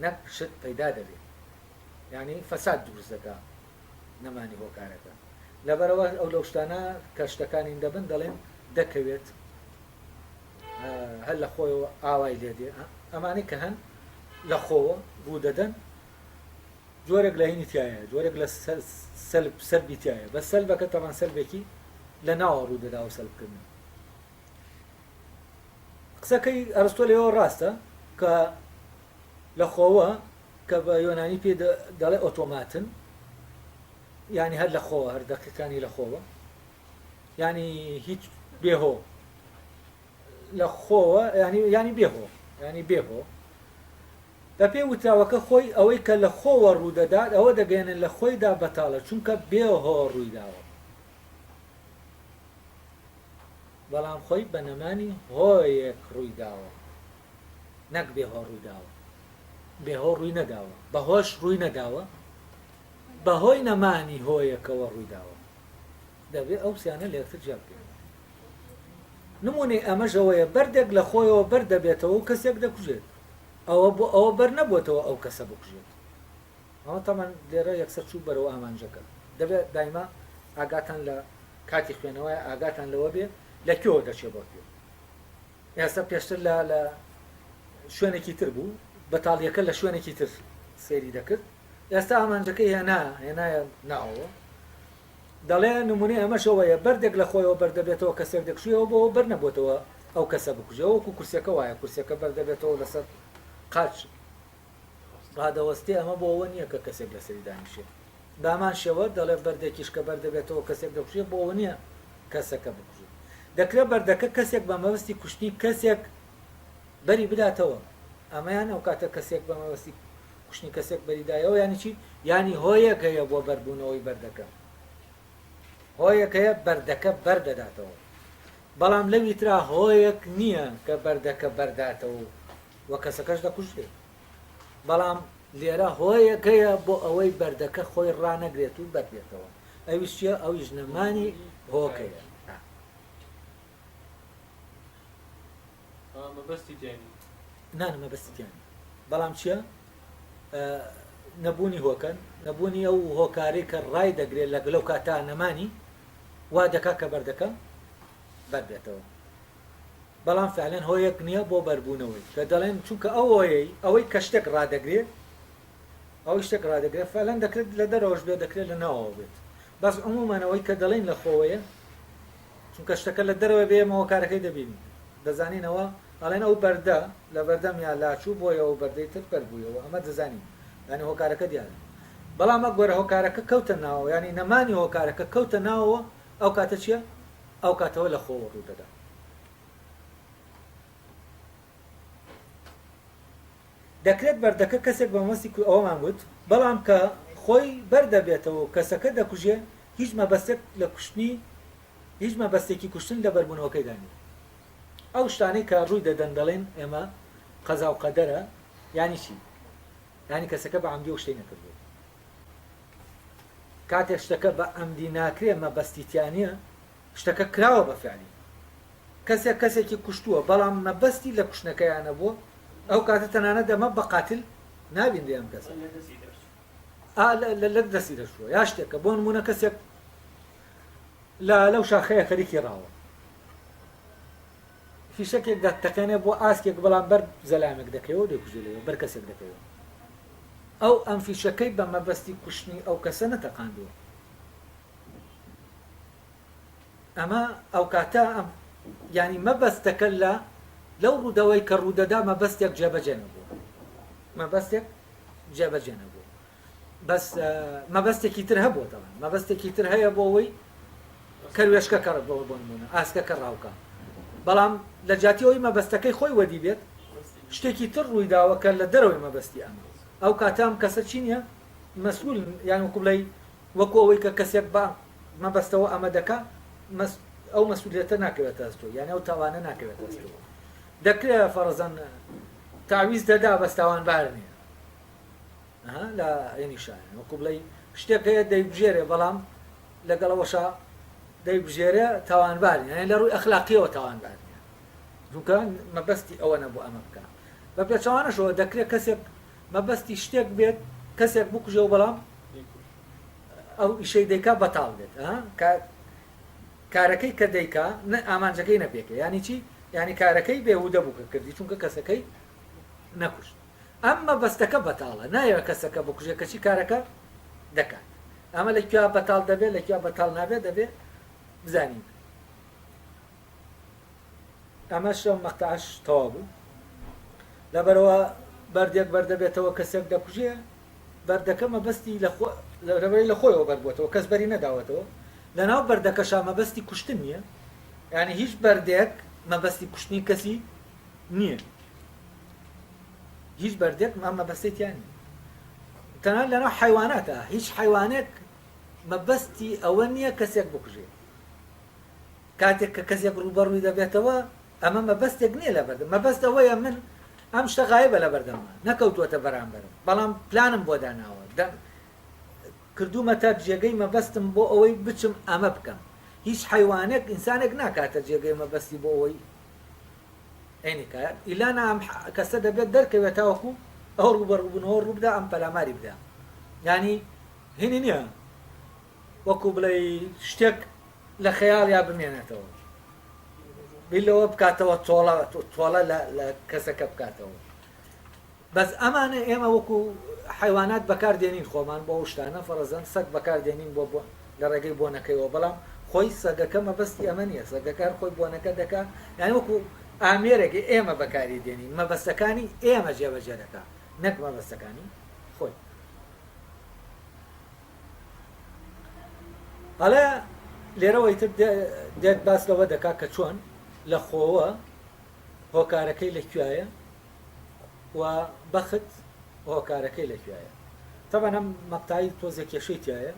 نەک شت پەیدا دەبێت ینی فەساد دروست دەکە نەمانی هۆکارەکە لەبەرەوە ئەو لەو شتانە کە شتەکانین دەبن دەڵێن دەکەوێت هەر لە خۆیەوە ئاوای لێدێ ئەمانەی کە هەن لە خۆوە ڕوو دەدەن جۆرێک لە هینی تایە جۆرێک لە سەلب سەلبی تایە بە سەلبەکە تەوان سەلبێکی لە ناوە ڕوو دەدا و سەلبکردن قسەکەی ئەرستۆ لەوە ڕاستە کە لە خۆوە کە بە یۆنانی پێ دەڵێ ئۆتۆماتن ینی هەر لە خۆوە هەر دەقیقانی لە خۆوە ینی هیچ بێهۆ لە خۆوە ینی ینی بێهۆ ینی بێهۆ بەپێی وتراوەکە خۆی ئەوەی کە لە خۆوە ڕوودەدات ئەوە دەگەیەنێت لە خۆیدا بەتاڵە چونکە بێ هۆ ڕوویداوە بەڵام خۆی بە نەمانی هۆیەک ڕوویداوە نەک بێ هۆ ڕوویداوە بێ هۆ ڕووی نەداوە بە هۆش ڕووی نەداوە بە هۆی نەمانی هۆیەکەوە ڕوویداوە دەبێ ئەو سیانە لە یەکتر جیا بکەین نمونەی ئەمەژەوەیە بەردێک لە خۆیەوە بەردەبێتەوە و کەسێک دەکوژێت ئەوە بۆ ئەوە بەر نەبووەتەوە ئەو کەسە بکوژێت ئەوە تەمان لێرە یەکسەر چوو بەرەوە ئامانجەکە دەبێت دایما ئاگاتان لە کاتی خوێنەوەی ئاگاتان لەوە بێ لە کوێوە دەچێت بۆ کوێ ئێستا پێشتر لە لە شوێنێکی تر بوو بەتاڵیەکە لە شوێنێکی تر سەیری دەکرد ئێستا ئامانجەکە هێنا هێنایە ناوەوە دەڵێ، نموونەی ئەمەش ئەوەیە بەردێک لە خۆیەوە بەر دەبێتەوە کەسێک دەکشێ ئەو بەوە بەر نەبۆتەوە ئەو کەسە بکوژێ ئەوە وەکوو کورسیەکە وایە کورسیەکە بەر دەبێتەوە لەسەر قاچ ڕادەوەستێ ئەمە بۆ ئەوە نییە کە کەسێک لەسەری دانیشێ بامان شێوە دەڵێ بەردێکیش کە بەر دەبێتەوە کەسێک دەکوژێ بۆ ئەوە نییە کەسەکە بکوژێ دەکرێت بەردەکە کەسێک بە مەبەستی کوشتنی کەسێک بەری بداتەوە ئەمەیان ئەو کاتە کەسێک بە مەبەستی کوشتنی کەسێک بەریدایەوە یانی چی یانی هۆیەک هەیە بۆ بەربوونەوەی بەردەکە هۆیەک هەیە بەردەکە بەردەداتەوە بەڵام لەوی ترا هۆیەک نییە کە بەردەکە بەرداتەوە و کەسەکەش دەکوژێت بەڵام لێرە هۆیەک هەیە بۆ ئەوەی بەردەکە خۆی ڕانەگرێت و بەردێتەوە ئەویش چیە ئەویش نەمانی هۆکەیە ئەوە مەبەستی تیا نیە نانە مەبەستی تیا نیە بەڵام چییە نەبوونی هۆکەن نەبوونی ئەو هۆکارەی کە ڕای دەگرێت لە گلەو کاتا نەمانی وا دەکا کە بەردەکە بەربێتەوە بەڵام فعلەن هۆیەک نییە بۆ بەربوونەوەی کە دەڵێن چونکە ئەوەیە ئەوەی کە شتێک ڕدەگرێت ئەو شتێک ڕدەگرێت فعلەن دەکرێت لە دەرەوەش بێ دەکرێت لە ناوەوە بێت بەس عمومانەوەی کە دەڵێن لە خۆوەیە چونکە شتەکە لە دەرەوەی بەیەمەوە کارەکەی دەبینی دەزانینەوە ئەڵێن ئەو بەردە لە بەردەمیا لاچوو بۆیە ئەو بەردەی تر بەر بوویەوە ئەمە دەزانین یانی هۆکارەکە دیارە بەڵام ئەگەر هۆکارەکە کەوتە ناوەوە یانی نەمانی هۆکارەکە کەوتە ناوەوە ئەو کاتە چییە ئەو کاتەوە لە خۆوە ڕوو دەدا. دەکرێت بەردەکە کەسێک بە مەبەستی کوو ئەوەمان گوت، بەڵام کە خۆی بەر دەبێتەوە و کەسەکە دەکوژێ هیچ مەبەستێک لە کوشتنی هیچ مەبەستێکی کوشتن لە بەربوونەوەکەیدا نییە. ئەو شتانەی کە ڕووی دەدەن دەڵێن ئێمە قەزا و قەدەرە یانی چی؟ یانی کەسەکە بە عەمدی ئەو شتەی نەکردووە. کاتێک شتەکە بە عەمدی ناکرێ مەبەستی تیا نییە. شتەکە کراوە بە فعلی کەسێک کەسێکی کوشتووە بەڵام مەبەستی لە کوشتنەکەیا نەبووە ئەو کاتە تەنانەت ئەمە بە قاتل نابینرێ ئەم کەسە ئا لە لە دەستی دەشووە یا شتێکە بۆ نمونە کەسێک لە لەو شاخەیە خەریکی ڕاوە فیشەکێک دە تەقێنێ بۆ ئاسکێک بەڵام بەر زەلامێک دەکەوە دەکوژێ لەوێ بەر کەسێک دەکەوێت ئەو ئەم فیشەکەی بە مەبەستی کوشتنی ئەو کەسە نەتەقاندووە ئەمە ئەوکاتە ئەم یانی مەبەستەکە لە لەو ڕوودەوەی کە ڕوودەدا مەبەستێک جێبەجێ نەبوو مەبەستێک جێبەجێ نەبوو بەس مەبەستێکی تر هەبوو دەڵێن مەبەستێکی تر هەیە بۆ ئەوەی کەروێشکە کەڕ بۆ بۆ نمونە ئاسکەکە ڕاوکە بەڵام لە جاتی ئەوی مەبەستەکەی خۆی وەدی بێت شتێکی تر ڕووی داوەکە لە دەرەوەی مەبەستی ئەمە ئەو کاتام کەسە چی نیە مەسول یان وکوڵی وەکو ئەوەی کە کەسێک بە مەبەستەوە ئەمە دەکا ئەو مەسئولیەتە ناکەوێتە ئەستۆی یانی ئەو تاوانە ناکەوێتە ئەستۆی دەکرێ فەرەزەن تاویز دەدا بەس تاوانبار نییە ها لە عینی شایان وەکو بڵێ شتێک هەیە دەیبژێرێ بەڵام لەگەڵەوەشە دەیبژێرێ تاوانبار نییە یانی لە ڕووی ئەخلاقیەوە تاوانبار نییە جونکە مەبەستی ئەوە نەبوو ئەمە بکە بە پێچەوانەشەوە دەکرێت کەسێک مەبەستی شتێک بێت کەسێک بکوژێ و بەڵام ئەو ئیشەی دەیکا بەتاڵ بێت ها کە کارەکەی کە دەیکا نە ئامانجەکەی نەپێکە یانی چی یانی کارەکەی بێهودە بوو کە کردی چونکە کەسەکەی نەکوشت ئەم مەبەستەکە بەتاڵە نایە کەسەکە بکوژێ کەچی کارەکە دەکات ئەمە لە کوێ بەتاڵ دەبێت لە کوێ بەتاڵ نابێت دەبێت بزانین ئەمەش ئەم مەقتەعەش تەواو بوو لەبەرەوە بەردێک بەردەبێتەوە کەسێک دەکوژێ بەردەکە مەبەستی لەبەری لە خۆیەوە بەربووەوە کەس بەری نەداوەتەوە لەناو بەردەکەشا مەبەستی کوشتن نییە یعنی هیچ بەردێک مەبەستی کوشتنی کەسی نییە هیچ بەردێک ئەم مەبەستێتیانی تەنان لەناو حیواناتە هیچ حیوانێک مەبەستی ئەوە نییە کەسێک بکوژێ کاتێک کە کەسێک ڕووبەڕووی دەبێتەوە، ئەمە مەبەستێک نییە لە بەردەم، مەبەست ئەوەیە من ئەم شتە غایبە لە بەردەممە، نەکەوتووەتە بەرامبەرم، بەڵام پلانم بۆ داناوە، کردوومەتە جێگەی مەبەستم بۆ ئەوەی بچم ئەمە بکەم. هیچ حەیوانێک ئینسانێک ناکاتە جێگەی مەبەستی بۆ ئەوەی عەینی کا، ئیلا نا ئەم کەسە دەبێت دەرکەوێت تاوەکو ئەو ڕووبەڕووبوونەوە ڕووبدا ئەم پەلاماری بدا. یانی هینی نییە وەکو بڵێی شتێک لە خەیاڵیا بمێنێتەوە بیر لەوە بکاتەوە تۆڵە تۆڵە لە کەسەکە بکاتەوە بەس ئەمانە ئێمە وەکو حیوانات بەکار دێنین خۆمان بۆ شتانە فەرەزەن سەگ بەکار دێنین بۆ بۆ لە ڕێگەی بۆنەکەیەوە بەڵام خۆی سەگەکە مەبەستی ئەمە نیە سەگەکان خۆی بۆنەکە دەکا یان وەکو ئامێرێک ئێمە بەکاری دێنین مەبەستەکانی ئێمە جێبەجێ دەکا نەک مەبەستەکانی خۆی ئەڵێ لێرەوە ئیتر دێت باس لەوە دەکا کە چۆن لە خۆوە هۆکارەکەی لە کوایە و بەخت هۆکارەکەی لە کوایە تەبەنە مەقتایی تۆزە کێشەی تایە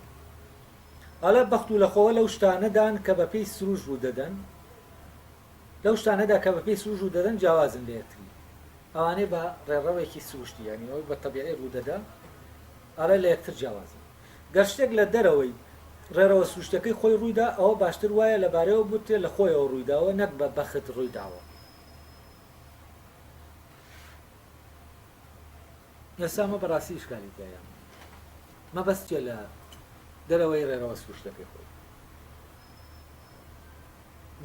ئەڵێ بەخت و لەخۆوە لەو شتانەدان کە بەپی سروش ڕوو دەدەن لەو شتانەدا کە بەپی سروش ڕوو دەدەن جیاوازن لێتری ئەوانەی بە ڕێڕەوێکی سروشتی یانیەوە بە تەبیعی ڕوودەدا ئەڵێ لە یەکتر جیاوازن. گەر شتێک لە دەرەوەی ڕێڕەوە سروشتیەکەی خۆی ڕوویدا، ئەوە باشتر وایە لەبارەیەوە بوترێ لە خۆیەوە ڕوویداوە نەک بە بەخت ڕوویداوە. ئێستا ئەمە بە ڕاستی ئیشکالی تیایە. مەبەست چیە لە دەرەوەی ڕێڕەوە سروشتیەکەی خۆی؟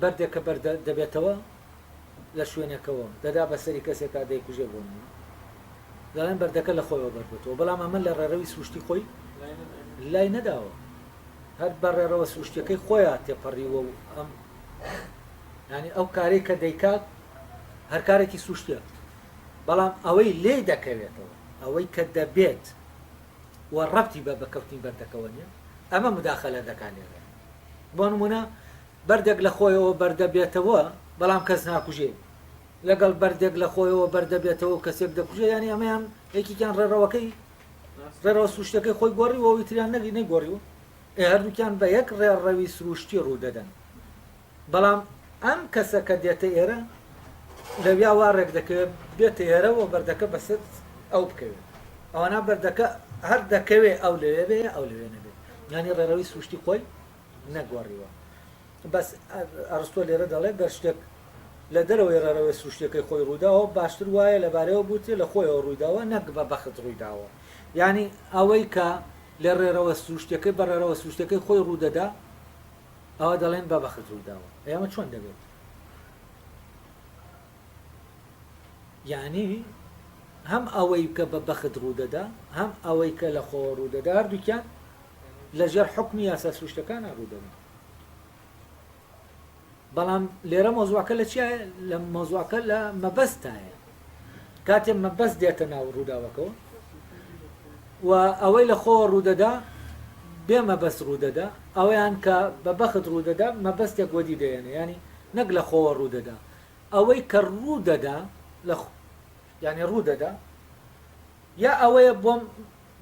بەردێک کە بەر دەبێتەوە لە شوێنێکەوە دەدا بە سەری کەسێک کا دەیکوژێ بۆ نموونە دەڵێن بەردەکە لە خۆیەوە بەربێتەوە بەڵام ئەمە لە ڕێڕەوی سروشتی خۆی لای نەداوە هەر بە ڕێڕەوە سروشتەکەی خۆیان تێپەڕیوە و ئەم ینی ئەو کارێک کە دەیکات هەر کارێکی سروشتە بەڵام ئەوەی لێ دەکەوێتەوە ئەوەی کە دەبێت و ڕەتی بە بەکەوتنی بەردەکەوە نیە ئەمە مداخە لە دەکان لێرە بۆ نموونە بەردێک لە خۆیەوە بەردەبێتەوە بەڵام کەس ناکوژێ لەگەڵ بەردێک لە خۆیەوە بەردەبێتەوە و کەسێک دەکوژێ یانی ئەمەیان یەکیان ڕێڕەوەکەی ڕێڕەوە سروشتەکەی خۆی گۆڕیەوە ئیتریان نەگی نەگۆڕیوە ئێ هەردووکیان بە یەک ڕێڕەوی سروشتی ڕوو دەدەن بەڵام ئەم کەسە کە دێتە ئێرە لەویا وا ڕێک دەکەوێت بێتە ئێرە و بەردەکە بەسەر ئەو بکەوێت ئەوەنا بەردەکە هەر دەکەوێت ئەو لەوێ بێ ئەو لەوێ نەبێت یانی ڕێڕەوی سروشتی خۆی نەگۆڕیوە بەس ئەرستۆ لێرە دەڵێت گەر شتێک لە دەرەوەی ڕێڕەوەی سروشتەکەی خۆی ڕووداوە باشتر وایە لەبارەوە بوتێ لە خۆیەوە ڕوویداوە نەک بە بەخت ڕوویداوە یعنی ئەوەی کە لە ڕێرەوە سروشتەکەی بە ڕێرەوە سروشتەکەی خۆی ڕوودەدا ئەوا دەڵێن بە بەخت ڕووداوە ئەی ئەمە چۆن دەبێت یعنی هەم ئەوەی کە بە بەخت ڕوودەدا هەم ئەوەی کە لە خۆوە ڕوودەدا هەردووکیان لەژێر حکمی یاسا سروشتەکان ڕوودەدا بەڵام لێرە مۆزوعەکە لە چیە لە مۆزوعەکە لە مەبەستایە کاتێ مەبەست دێتە ناو ڕووداوەکەوە و ئەوەی لە خۆ ڕوودەدا بێ مەبەست ڕوودەدا ئەویان کە بە بەخت ڕوودەدا مەبەستێک وەدی دەێنێ ینی نەک لە خۆوە ڕوودەدا ئەوەی کە ڕوودەدا لە ینی ڕوودەدا یا ئەوەیە بۆم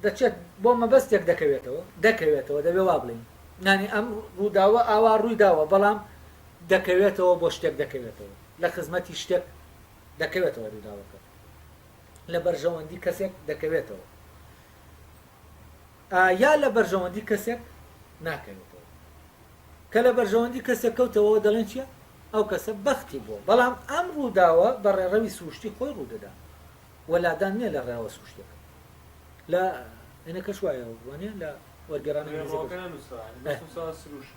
دەچێت بۆ مەبەستێک دەکەوێتەوە دەکەوێتەوە دەبێ وا بڵین نانی ئەم ڕووداوە ئاوا ڕوویداوە بەڵام دەکەوێتەوە بۆ شتێک دەکەوێتەوە لە خزمەتی شتێک دەکەوێتەوە رووداوەکە لە بەرژەوەندی کەسێک دەکەوێتەوە یا لە بەرژەوەندی کەسێک ناکەوێتەوە کە لە بەرژەوەندی کەسێک کەوتەوە دەڵێن چیە ئەو کەسە بەختی بووە بەڵام ئەم رووداوە بە ڕێڕەوی سروشتی خۆی ڕوودەدا وەلادان نییە لە ڕێوە سوشتێک لە ئەنە کەش وایە وانە لە وەرگێرانە سروشت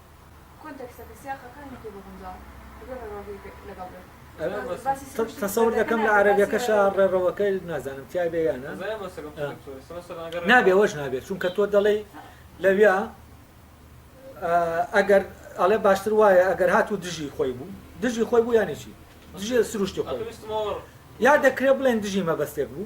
کۆنتێکستەکە، سیاقەکە، هەنێ پێ بگونجاون بەبێ ڕێڕەوەکەی لەگەڵ بێت. تەسەور دەکەم لە عەرەبیەکەشا ڕێڕەوەکە نازانم تیای بێ یان نابێ وەش نابێ چونکە تۆ دەڵێی لەویا ئەگەر ئەڵێ باشتر وایە ئەگەر هات و دژی خۆی بوو دژی خۆی بوو یانێکی دژێ سروشتی خۆی یا دەکرێ بڵێن دژی مەبەستێک بوو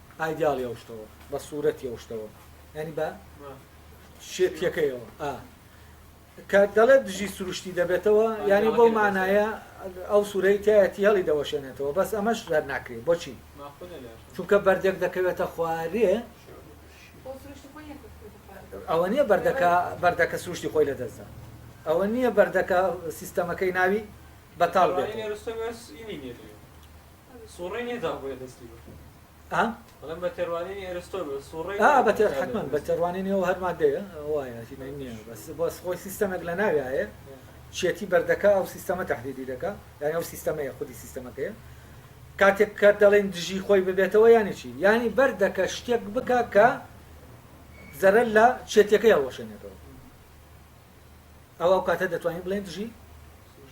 ئایدیاڵی ئەو شتەوە بە سوورەتی ئەو شتەوە ینی بە شێتیەکەیەوە ئا کە دەڵێت دژی سروشتی دەبێتەوە ینی بەو مانایە ئەو سوورەی تایەتی هەڵی دەوەشێنێتەوە بەس ئەمەش زەر ناکرێت بۆچی چونکە بەردێک دەکەوێتە خوارێ ئەوە نییە بەردەکە بەردەکە سروشتی خۆی لە دەستدا ئەوە نییە بەردەکە سیستەمەکەی ناوی بەتاڵ بێت سوڕی نیە تا بۆیە دەستی بە ئا؟ بەڵێن بە تێروانینی ئەرستۆ بە سوڕی ئا بە تێر حتمما بە تێروانینی ئەو هەر مادەیە وایە هیمەی نییە بەس بەس خۆی سیستەمێک لە ناوی هەیە چێتی بەردەکە ئەو سیستەمە تهدیدی دەکا یانی ئەو سیستەمەیە خودی سیستەمەکەیە کاتێک کە دەڵێن دژی خۆی ببێتەوە یانی چی یانی بەردەکە شتێک بکە کە زەرەر لە چێتەکەی هەڵوەشێنێتەوە ئەوا ئەو کاتە دەتوانین بڵێن دژی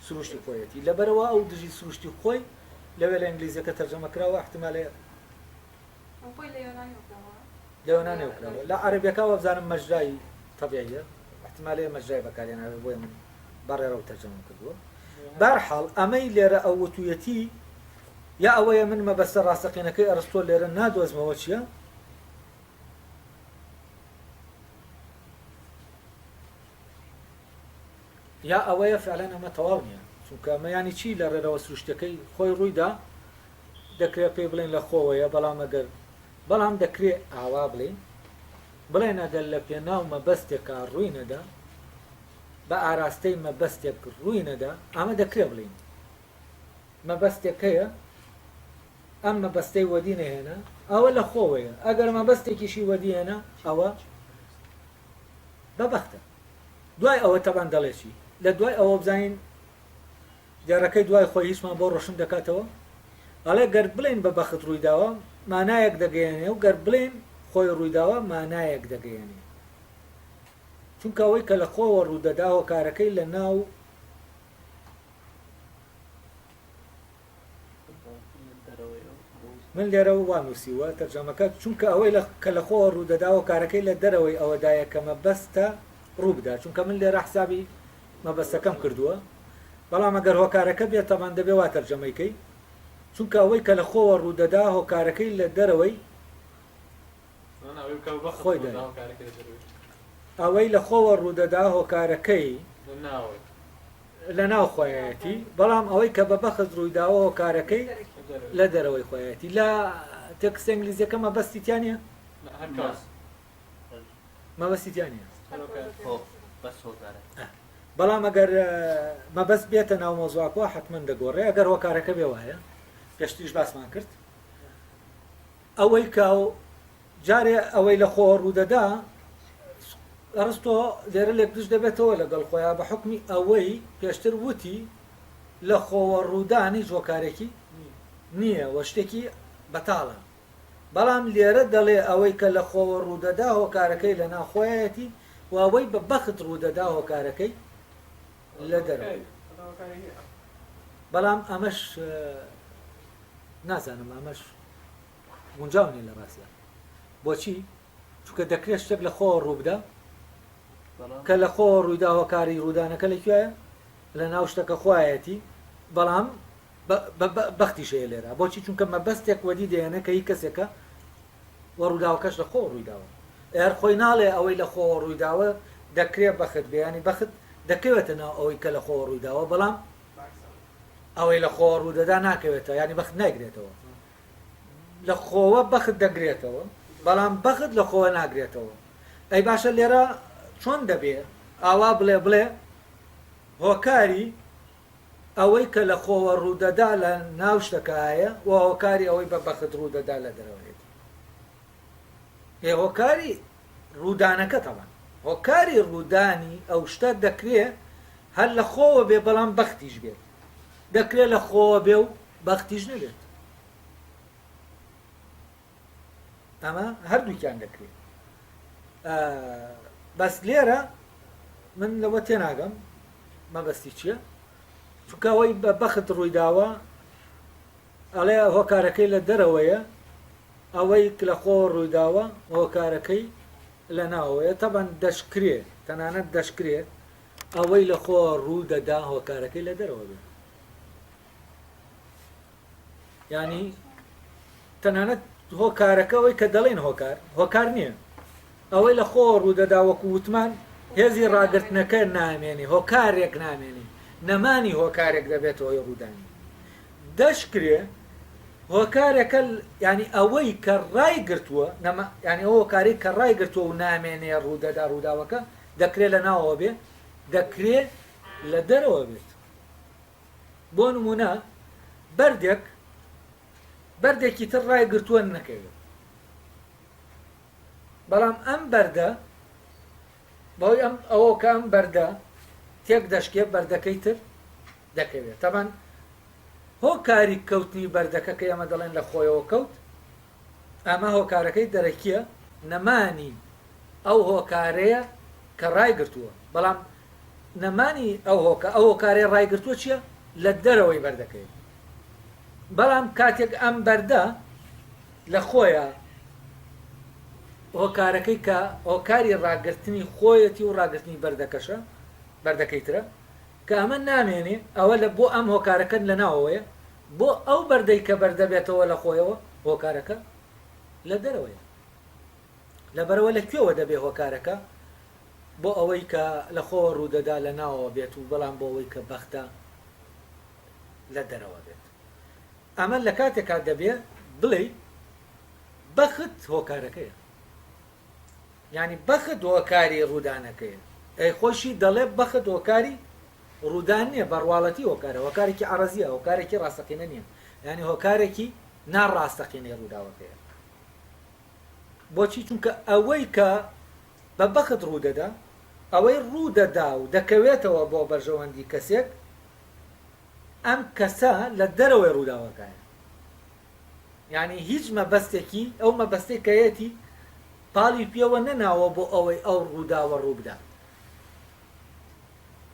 سروشتی خۆیەتی لەبەرەوە ئەو دژی سروشتی خۆی لەوێ لە ئینگلیزیەکە تەرجەمە کراوە احتمالێ لە یۆنانێ وکراوە لە عەربەکە وەبزانم مەجرای طبیعیە احتمالێ مەجرای بەکارێناوێ بۆی من بەڕێرە و تەرجەمە کردووە بارحاڵ ئەمەی لێرە ئەو وتویەتی یا ئەوەیە من مەبەستە ڕاستەقینەکەی ئەرستۆ لێرە نادۆزمەوە چییە یا ئەوەیە فعلەن ئەمە تەواو نییە چونکە ئەمە ینی چی لە ڕێرەوە سروشتەکەی خۆی ڕوویدا دەکرێت پێی بڵێن لە خۆوەیە بەڵام ئەگەر بەڵام دەکرێت ئاوا بڵێن بڵێن ئەگەر لە پێناو مەبەستێکا ڕووی نەدا بە ئاراستەی مەبەستێک ڕووی نەدا ئەمە دەکرێ بڵین مەبەستێک هەیە ئەم مەبەستەی وەدی نەهێنا ئەوە لە خۆوەیە، ئەگەر مەبەستێکیشی وەدی هێنا ئەوە بەبەختە. دوای ئەوە تەبان دەڵێ چی؟ لە دوای ئەوە بزانین دێڕەکەی دوای خۆی هیچمان بۆ ڕۆشن دەکاتەوە، ئەڵێ گەر بڵێین بەبەخت ڕوویداوە مانایەک دەگەیەنێ و گەر بڵێین خۆی ڕوویداوە مانایەک دەگەیەنێ. چونکە ئەوەی کە لە خۆوە ڕوودەدا هۆکارەکەی لە ناو من لێرەوە وا نووسیووە تەرجەمەکە، چونکە ئەوەی کە لە خۆوە ڕوو دەداوە کارەکەی لە دەرەوەی ئەوەدایە کە مەبەستە ڕوو بدات، چونکە من لێرە حسابی مەبەستەکەم کردووە، بەڵام ئەگەر هۆکارەکە بێت تەبان دەبێ وا تەرجەمەی کەی، چونکە ئەوەی کە لە خۆوە ڕوو دەدا هۆکارەکەی لە دەرەوەی خۆیدایە. ئەوەی لە خۆوە ڕوو دەدا هۆکارەکەی. لەناو خۆیەتی، بەڵام ئەوەی کە بە بەخت ڕوویداوە هۆکارەکەی لە دەرەوەی خۆیەتی. لە تێکستە ئینگلیزیەکە مەبەستی تیا نیە؟ مەبەستی تیا نیە. بەڵام ئەگەر مەبەست بێتە ناو مۆزواکەوە حتمما دەگۆڕێ ئەگەر هۆکارەکە بێ وایە پێشتریش باسمان کرد ئەوەی کە جارێ ئەوەی لە خۆوە ڕوودەدا، ئەرستۆ لێرە لێکدروست دەبێتەوە لەگەڵ خۆیان بە حوکمی ئەوەی پێشتر وتی لە خۆوە ڕوودان هیچ هۆکارێکی نییە و شتێکی بەتاڵە، بەڵام لێرە دەڵێ ئەوەی کە لە خۆوە ڕوودەدا هۆکارەکەی لە ناو خۆیایەتی و ئەوەی بە بەخت ڕوودەدا هۆکارەکەی لە دەرەوەیە. بەڵام ئەمەش نازانم ئەمەش. گونجاو نیە لە ڕاستدا بۆچی چونکە دەکرێت شتێک لە خۆوە ڕووبدا کە لە خۆوە ڕوویدا هۆکاری ڕوودانەکە لە کوێە لە ناو شتەکە خوایەتی بەڵام بەختی شەیە لێرە بۆچی چونکە مەبەستێک وەدی دێنە کە هی کەسێکە وە ڕووداوکەش لە خۆ ڕوویداوە ئەر خۆی ناڵێ ئەوەی لە خۆوە ڕوویداوە دەکرێت بەخت بیانی بەخت دەکەوێتە ناو ئەوەی کە لە خۆوە ڕوویداوە بەڵام ئەوەی لە خۆوە ڕوودەدا ناکەوێتە ینی بەخت نایگرێتەوە لە خۆوە بەخت دەگرێتەوە بەڵام بەخت لە خۆوە ناگرێتەوە ئەی باشە لێرە چۆن دەبێ ئاوا بڵێ بڵێ هۆکاری ئەوەی کە لە خۆوە ڕوودەدا لە ناو شتەکایە و هۆکاری ئەوەی بە بەخت ڕوودەدا لە دەرەوەێت ئێ هۆکاری ڕوودانەکە تەوان هۆکاری ڕوودانی ئەو شتە دەکرێ هەر لە خۆوە بێ بەڵام بەختیش بێت دەکرێت لە خۆوە بێ و بەختیش نەبێت ئەمە هەردووکیان دەکرێت بەس لێرە من لەوە تێناگەم مەبەستی چییە چونکە ئەوەی بە بەخت ڕوویداوە ئەڵێ هۆکارەکەی لە دەرەوەیە ئەوەی لە خۆ ڕوویداوە هۆکارەکەی لە ناوەیە تەبەن دەشکرێ تەنانەت دەشکرێ ئەوەی لە خۆ ڕوو دەدا هۆکارەکەی لە دەرەوە بێت یعنی تەنانەت هۆکارەکە ئەوەی کە دەڵێن هۆکار هۆکار نییە ئەوەی لە خۆ ڕوودەدا وەکو وتمان هێزی ڕاگرتنەکە نامێنی هۆکارێک نامێنی نەمانی هۆکارێک دەبێت هۆی ڕوودانی دەشکرێ هۆکارەکە ینی ئەوەی کە ڕای گرتووە ینی ئەو هۆکاری کە ڕای گرتووە و نامێنێ ڕوودەدا ڕووداوەکە دەکرێ لە ناوەوە بێ دەکرێ لە دەرەوە بێت بۆ نمونە بەردێک بەردێکی تر ڕای گرتووە نەکەوێت بەڵام ئەم بەردە بەوەی ئەم ئەوە کە ئەم بەردە تێک دەشکێ بەردەکەی تر دەکەوێت تەبان هۆ کاری کەوتنی بەردەکە کە ئێمە دەڵێن لە خۆیەوە کەوت ئەمە هۆکارەکەی دەرەکییە، نەمانی ئەو هۆکارەیە کە ڕایگرتووە، بەڵام نەمانی ئەو هۆکە ئەو هۆکارەی ڕایگرتووە چییە؟ لە دەرەوەی بەردەکەیە، بەڵام کاتێک ئەم بەردە لە خۆیە هۆکارەکەی کە هۆکاری ڕاگرتنی خۆیەتی و ڕاگرتنی بەردەکەشە، بەردەکەی ترە، کە ئەمە نامێنێ ئەوە لە بۆ ئەم هۆکارەکەن لە ناوەوەیە بۆ ئەو بەردەی کە بەر دەبێتەوە لە خۆیەوە هۆکارەکە لە دەرەوەیە لەبەرەوە لە کوێوە دەبێ هۆکارەکە بۆ ئەوەی کە لە خۆوە ڕوودەدا لە ناوەوە بێت و بەڵام بۆ ئەوەی کە بەختە لە دەرەوە بێت ئەمە لە کاتێکا دەبێ بڵێ بەخت هۆکارەکەیە یانی بەخت هۆکاری ڕوودانەکەیە ئەی خۆیشی دەڵێ بەخت هۆکاری ڕوودان نیە بەڕواڵەتی هۆکارە هۆکارێکی عەڕەزیە هۆکارێکی ڕاستەقینە نیە یانی هۆکارێکی نا ڕاستەقینەی ڕووداوەکەیە بۆچی چونکە ئەوەی کە بە بەخت ڕوودەدا ئەوەی ڕوودەدا و دەکەوێتەوە بۆ بەرژەوەندی کەسێک ئەم کەسە لە دەرەوەی ڕووداوەکەیە یانی هیچ مەبەستێکی، ئەو مەبەستەی کە هەیەتی، پاڵی پێوە نەناوە بۆ ئەوەی ئەو ڕووداوە ڕوو بدات.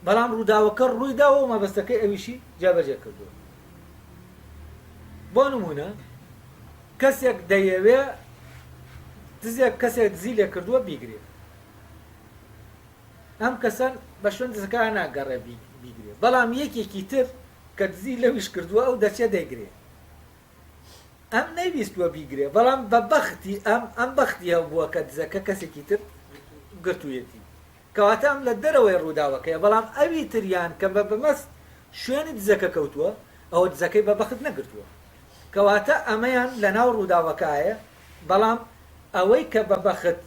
بەڵام ڕووداوەکە ڕووی داوە و مەبەستەکەی ئەویشی جێبەجێ کردووە. بۆ نموونە کەسێک دەیەوێ دزێک کەسێک دزی لێ کردووە بیگرێ. ئەم کەسەن بە شوێن دزەکان ناگەڕێ بیگرێ. بەڵام یەکێکی تر کە دزی لەویش کردووە ئەو دەچێ دەیگرێ. ئەم نەیویستووە بیگرێ بەڵام بە بەختی ئەم ئەم بەختی هەبووە کە دزەکە کەسێکی تر گرتوویەتی کەواتە ئەم لە دەرەوەی ڕووداوەکەیە بەڵام ئەوی تریان کە بە بەمەست شوێنی دزەکە کەوتووە ئەوە دزەکەی بە بەخت نەگرتووە کەواتە ئەمەیان لە ناو ڕووداوەکایە بەڵام ئەوەی کە بە بەخت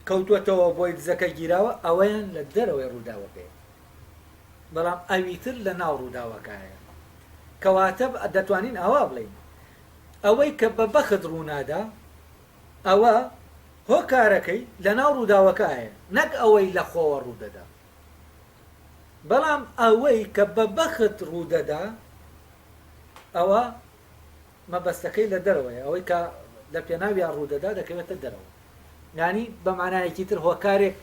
کەوتوەتەوە بۆی دزەکە گیراوە ئەوەیان لە دەرەوەی ڕووداوەکەیە بەڵام ئەویتر لە ناو ڕووداوەکایە. کەواتە دەتوانین ئاوا بڵێین، ئەوەی کە بە بەخت ڕوونادا، ئەوە هۆکارەکەی لە ناو ڕووداوەکایە، نەک ئەوەی لە خۆوە ڕوودەدا. بەڵام ئەوەی کە بە بەخت ڕوودەدا، ئەوە مەبەستەکەی لە دەرەوەیە، ئەوەی کە لە پێناویا ڕوودەدا دەکەوێتە دەرەوە. یانی بە مانایەکی تر هۆکارێک،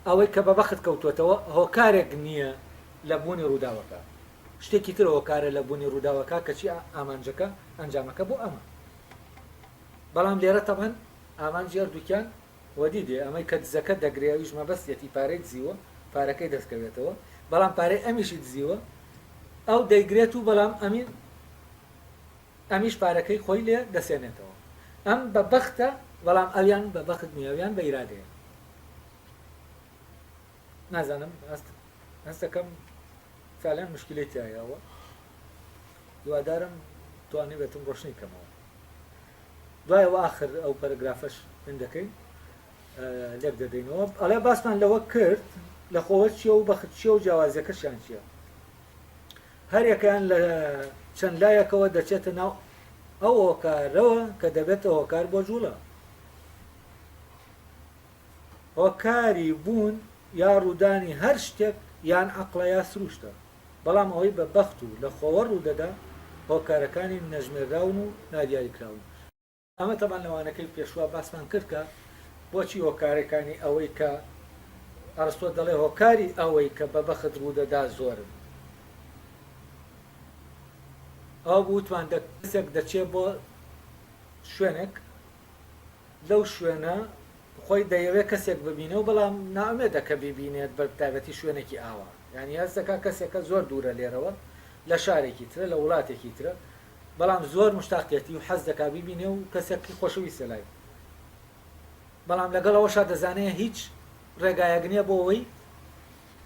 ئەوەی کە بە بەخت کەوتووەتەوە، هۆکارێک نییە لە بوونی ڕووداوەکە، شتێکی تر هۆکارە لە بوونی ڕووداوەکە، کەچی ئامانجەکە، ئەنجامەکە بۆ ئەمە. بەڵام لێرە تەبعەن ئامانجی هەردووکیان وەدی دێ، ئەمەی کە دزەکە دەگرێ ئەویش مەبەستیەتی پارەی دزیوە، پارەکەی دەستکەوێتەوە، بەڵام پارەی ئەمیشی دزیوە، ئەو دەیگرێت و بەڵام ئەمی ئەمیش پارەکەی خۆی لێ دەسێنێتەوە ئەم بە بەختە بەڵام ئەویان بە بەخت نیە ئەویان بە ئیرادەیە نازانم هەست هەستەکەم فعلەن مشکلی تایەوە دووادارم توانی بێتم ڕۆشنی کەمەوە دوای و آخر ئەو پەرگرافەش من دەکەین لێک دەدەینەوە ئەڵێ باسمان لەوە کرد لە خۆوە چیە و بەخت چیە و جیاوازیەکەشیان چیە هەریەکەیان لە چەند لایەکەوە دەچێتە ناو ئەو هۆکارەوە کە دەبێتە هۆکار بۆ جووڵە. هۆکاری بوون یا ڕوودانی هەر شتێک یان عەقڵە یا سرووشتە، بەڵام ئەوەی بە بەخت و لە خۆوە ڕوودەدا هۆکارەکانی نەژمێرراون و نادیاریکراون، ئەمە تەبان لەوانەکەی پێشوە باسمان کرد کە بۆچی هۆکارەکانی ئەوەی کە ئەرستۆ دەڵێ هۆکاری ئەوەی کە بە بەخت ڕوودەدا زۆرن ئەو بوتمان دەکەسێک دەچێ بۆ شوێنێک لەو شوێنە خۆی دەیەوێت کەسێک ببینە و بەڵام نامێدە کە بیبینێت بە تایبەتی شوێنێکی ئاوا یانی هەستەکە کەسێکە زۆر دوورە لێرەوە لە شارێکی ترە لە وڵاتێکی ترە بەڵام زۆر مشتاقیەتی و حەز دەکا بیبینێ و کەسێک ی خۆشەویستە لای بەڵام لەگەڵ ئەوەشا دەزانێ هیچ ڕێگایەک نیە بۆ وەی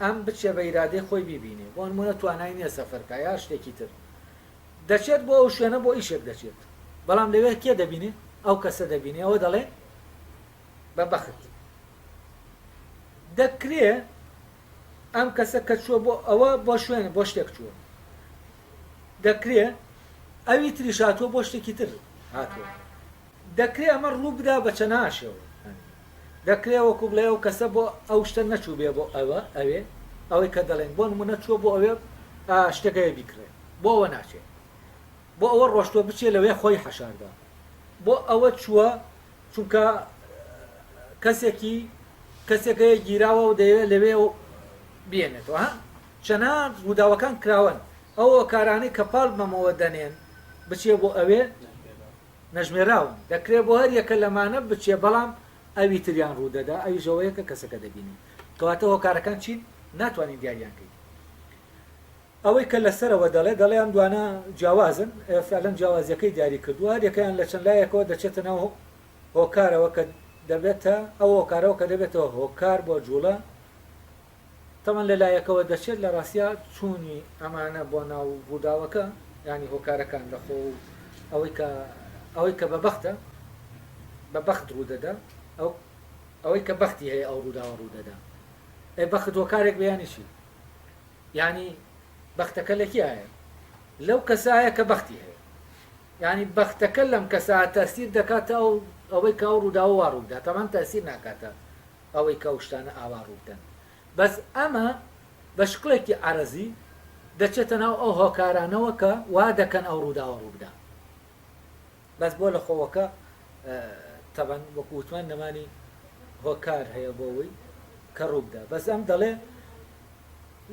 ئەم بچێ بە ئیرادەی خۆی بیبینێ بۆ نمونە توانای نیە سەفەر کا یا شتێکی تر دەچێت بۆ ئەو شوێنە بۆ ئیشێک دەچێت بەڵام لەوێ کێ دەبینێ ئەو کەسە دەبینێ ئەوە دەڵێ بە بەخت دەکرێ ئەم کەسە کە چووە بۆ ئەوە بۆ شوێنە بۆ شتێک چووە دەکرێ ئەوی تریش هاتووە بۆ شتێکی تر هاتووە. دەکرێ ئەمە ڕوو بدا بە چەناها شێوە. دەکرێ وەکوو بڵێ ئەو کەسە بۆ ئەو شتە نەچووبێ بۆ ئەوە، ئەوێ، ئەوەی کە دەڵێن، بۆ نموونە چووە بۆ ئەوێ شتێک هەیە بیکڕێ، بۆ ئەوە ناچێ. بۆ ئەوە ڕۆشتووە بچێ لەوێ خۆی حەشاردە. بۆ ئەوە چووە چونکە کەسێکی کەسێک هەیە گیراوە و دەیەوێ لەوێ بیێنێتەوە. چەناگ ڕووداوەکان کراوەن ئەو هۆکارانەی کە پاڵ بەمەوە دەنێن بچێ بۆ ئەوێ نەژمێراون دەکرێ بۆ هەر یەکە لەمانە بچێ بەڵام ئەوی تریان ڕوو دەدا ئەویش ئەوەیە کە کەسەکە دەبینێ کەواتە هۆکارەکان چین ناتوانین دیاریان کەین ئەوەی کە لەسەرەوە دەڵێ دەڵێ ئەم دوانە جیاوازن فعلەن جیاوازیەکەی دیاری کردووە هەر یەکەیان لە چەند لایەکەوە دەچێتە ناو هۆکارەوە کە دەبێتە ئەو هۆکارەوە کە دەبێتەوە هۆکار بۆ جوڵە تاوان لەلایەکەوە دەچێت لە ڕاستیا چوونی ئەمانە بۆ ناو ڕووداوەکە یانی هۆکارەکان لە خۆ و ئەوەی کە ئەوەی کە بە بەختە بە بەخت ڕوودەدا ئەو ئەوەی کە بەختی هەیە ئەو ڕووداوە ڕوودەدا ئەی بەخت هۆکارێک بیانی چی یانی بەختەکە لە کیایە لەو کەسایە کە بەختی هەیە یعنی بەختەکە لەم کەسا تاسیر دەکاتە ئەو ئەوەی کاو ڕووداوە ڕوودا تەمان تاسیر ناکاتە ئەوەی کە ئەو شتانە ئاوا ڕوو بدەن بەس ئەمە بە شکڵێکی عەرەزی دەچێتە ناو ئەو هۆکارانەوە کە وا دەکەن ئەو ڕووداوە ڕوو بدا بەس بۆ لە خۆوەکە تەبەن وەکو وتمان نەمانی هۆکار هەیە بۆەوەی کە ڕوو بدا بەس ئەم دەڵێ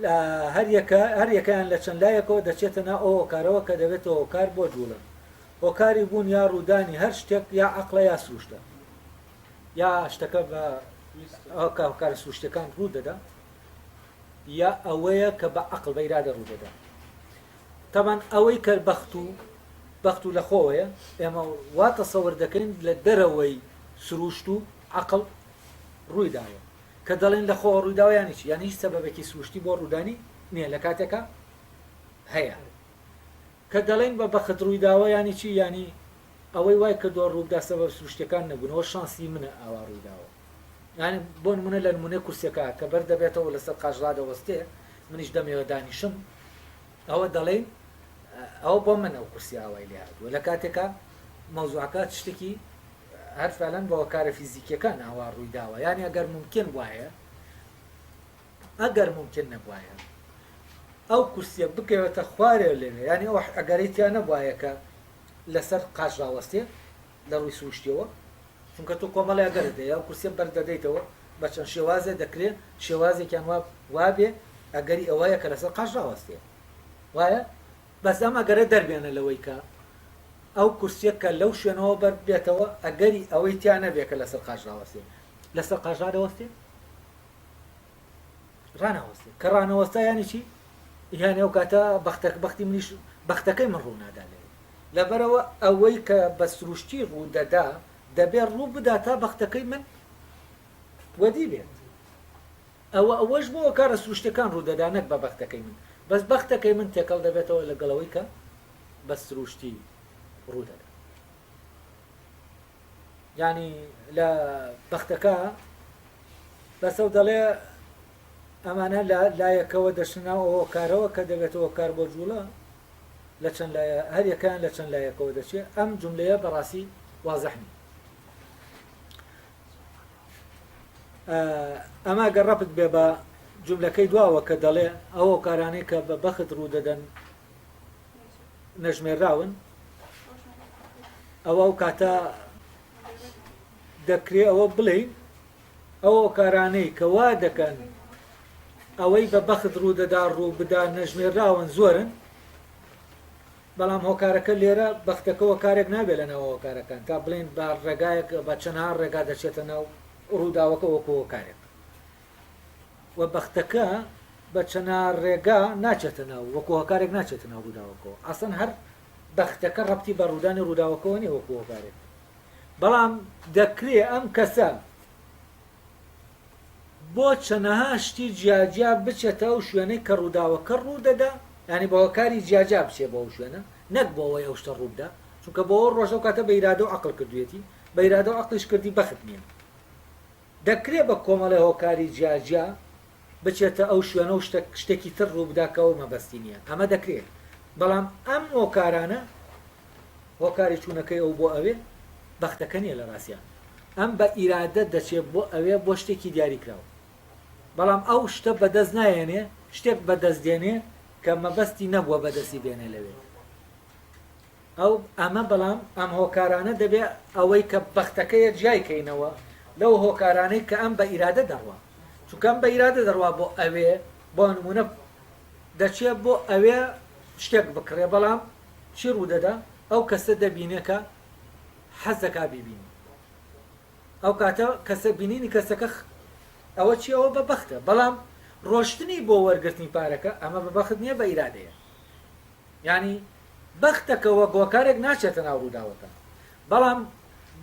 لە هەریەکە هەریەکەیان لە چەند لایەکەوە دەچێتە نا ئەو هۆکارەوە کە دەبێتەوە هۆکار بۆ جوڵن هۆکاری بوون یا ڕوودانی هەر شتێک یا عقلە یا سروشتە یا شتەکە بە ئەوکە هۆکارە سروشتەکان ڕوو دەدا یا ئەوەیە کە بە عقل بە ئیرادە ڕوو دەدا تەمان ئەوەی کە بەخت و بەخت و لەخۆوەیە ئێمە وا تەسەور دەکەین لە دەرەوەی سروشت و عقل ڕووی داوە کە دەڵێن لە خۆ ڕووداویانی چی یان هیچ سەبەبێکی سروشتی بۆ ڕوودانی نییە لە کاتێکە هەیە کە دەڵێین بە بەخت ڕوویداوە یانی چی یانی ئەوەی وای کردوە ڕووبدا سەبەب سروشتیەکان نەبوون ئەوە شانسی منە ئاوا ڕوویداوە یانی بۆ نمونە لە نمونەی کورسیەکە کە بەر دەبێتەوە لەسەر قاش ڕادەوەستێ منیش دەمێوە دانیشم ئەوە دەڵێین ئەوە بۆ من ئەو کورسی ئاوای لێ هاتووە لە کاتێکا مەوزوعەکە شتێکی هەر فعلەن بە هۆکارە فیزیکیەکان ئاوا ڕوویداوە یانی ئەگەر ممکن وایە ئەگەر مومکین نەبوایە ئەو کورسیە بکەوێتە خوارێ لەوێ یانی ئەو ئەگەرەی تیا نەبوایە کە لەسەر قاچ ڕاوەستێ لە ڕووی سروشتیەوە چونکە تۆ کۆمەڵی ئەگەرت هەیە ئەو کورسیە بەردەدەیتەوە بە چەند شێوازێ دەکرێ شێوازێکیان وا وابێ ئەگەری ئەوەیە کە لەسەر قاچ ڕاوەستێ وایە بەس ئەم ئەگەرە دەربێنە لەوەی کە ئەو کورسیە کە لەو شوێنەوە بەر بێتەوە ئەگەری ئەوەی تیا نەبێ کە لەسەر قاچ ڕاوەستێ لەسەر قاچ ڕادەوەستێ ڕاناوەستێ کە ڕانەوەستا یانی چی یانی ئەو کاتە بەختەک بەختی منیش بەختەکەی من ڕوونادا لێ لەبەرەوە ئەوەی کە بە سروشتی ڕوودەدا دەبێ ڕوو بدا تا بەختەکەی من وەدی بێت ئەوە ئەوەش بۆ کارە سروشتەکان ڕوودەدا نەک بە بەختەکەی من بەس بەختەکەی من تێکەڵ دەبێتەوە لەگەڵەوەی کە بە سروشتی ڕوودەدا یانی لە بەختەکە بەسە و دەڵێ ئەمانە لە لایەکەوە دەشناو ئەوە کارەوە کە دەبێتەوە کار بۆ جوڵە لە چەند لایە هەر یەکان لە چەند لایەکەوە دەچێت ئەم جملەیە بەڕاستی وازەحنی ئەما گەڕەپت بێ بە جملەکەی دواوە کە دەڵێ ئەوە کارانەی کە بە بەخت ڕوو دەدەن نەژمێرراون ئەوە ئەو کاتە دەکرێت ئەوە بڵێین ئەو کارانەی کە وا دەکەن ئەوەی بە بەخت ڕوو دەدا ڕوو بدا نەژمێرراون زۆرن بەڵام هۆکارەکە لێرە بەختەکەەوە کارێک نابێت لە ناوەوە کارەکان تا بڵێن بە ڕێگایەک بە چەنها ڕێگا دەچێتە ناو ڕووداوەکە وەکۆ کارێک و بەختەکە بە چەنا ڕێگا ناچێتە ناو وەکو هۆکارێک ناچێتە ناو ڕووداوەکەەوە ئاسن هەر بەختەکە ڕەتی بە ڕوودانی ڕووداوەکەەوە نیە وەکو هۆکارێک بەڵام دەکرێ ئەم کەسە بۆ چەنەها شتی جیاجیا بچێتە ئەو شوێنەی کە ڕووداوەکە ڕوودەدا ینی بە هۆکاری جیاجا بچێ بۆ ئەو شوێنە نەک بۆەوەی ئەو شتە ڕووبدا چونکە بۆ ڕۆژە کاتە بەیرادە و عقل کردوێتی بەیرادە و عقلیش کردی بەخت نیە دەکرێ بە کۆمەڵێ هۆکاری جیاجیا بچێتە ئەو شوێنە و شتێکی تر ڕووبدا کە ئەو مەبەستی نییە، ئەمە دەکرێ، بەڵام ئەم هۆکارانە، هۆکاری چوونەکەی ئەو بۆ ئەوێ، بەختەکە نییە لە ڕاستیان. ئەم بە ئیرادە دەچێ بۆ ئەوێ بۆ شتێکی دیاریکراو. بەڵام ئەو شتە بەدەست نایەنێ، شتێک بەدەست دێنێ کە مەبەستی نەبووە بەدەستی بێنێ لەوێ. ئەو ئەمە بەڵام ئەم هۆکارانە دەبێ ئەوەی کە بەختەکەیە جیای کەینەوە لەو هۆکارانەی کە ئەم بە ئیرادە دەڕوا چونکە ئەم بە ئیرادە دەڕوا بۆ ئەوێ بۆ نمونە دەچێ بۆ ئەوێ شتێک بکڕێ بەڵام چی ڕوودەدا ئەو کەسە دەبینێ کە حەزەکە بیبینی ئەو کاتە کەسە بینینی کەسەکە ئەوە چی ئەوە بە بەختە بەڵام ڕۆشتنی بۆ وەرگرتنی پارەکە ئەمە بە بەخت نییە بە ئیرادەیە ینی بەختەکەوە هۆکارێک ناچێتە ناو ڕووداوەکە، بەڵام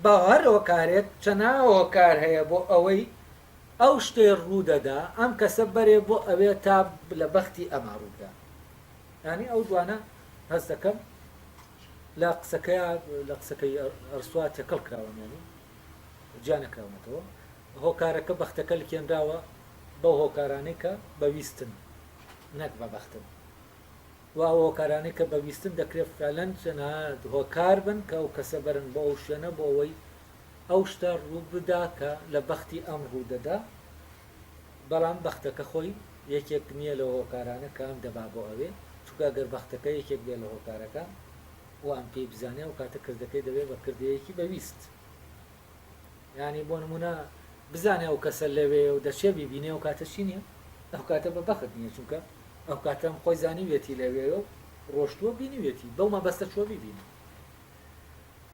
بە هەر هۆکارێک چەناا هۆکار هەیە بۆ ئەوەی ئەو شتەی ڕوو دەدا ئەم کەسە بەرێ بۆ ئەوێ تا لە بەختی ئەما ڕوو بدا. یانی ئەو دوانە هەست دەکەم لە قسەکەیا لە قسەکەی ئەرسوا تێکەڵ کراوە یانی جیا نەکراونەتەوە. هۆکارەکە بەختەکە لکێنراوە بەو هۆکارانەی کە بە ویستن نەک بە بەختن. و ئەو هۆکارانەی کە بە ویستن دەکرێت فەعلا چەناهەت هۆکار بن کە ئەو کەسە بەرن بۆ ئەو شوێنە بۆ ئەوەی ئەو شتە ڕوو بدا کە لە بەختی ئەم ڕوو دەدا بەڵام بەختەکە خۆی یەکێک نییە لەو هۆکارانە کە ئەم دەبا بۆ ئەوێ چونکە گەر بەختەکە یەکێک بێ لە هۆکارەکان و ئەم پێی بزانێ ئەو کاتە کردەکەی دەبێ بە کردەیەکی بە ویست. یانی بۆ نمونە بزانێ ئەو کەسە لەوێ و دەچێ بیبینێ و کاتە چی نییە ئەو کاتە بە بەخت نییە چونکە ئەو کاتەم خۆی زانیویەتی لەوێ و ڕۆشتووە بینیویەتی بەو مەبەستە چوە بیبینێ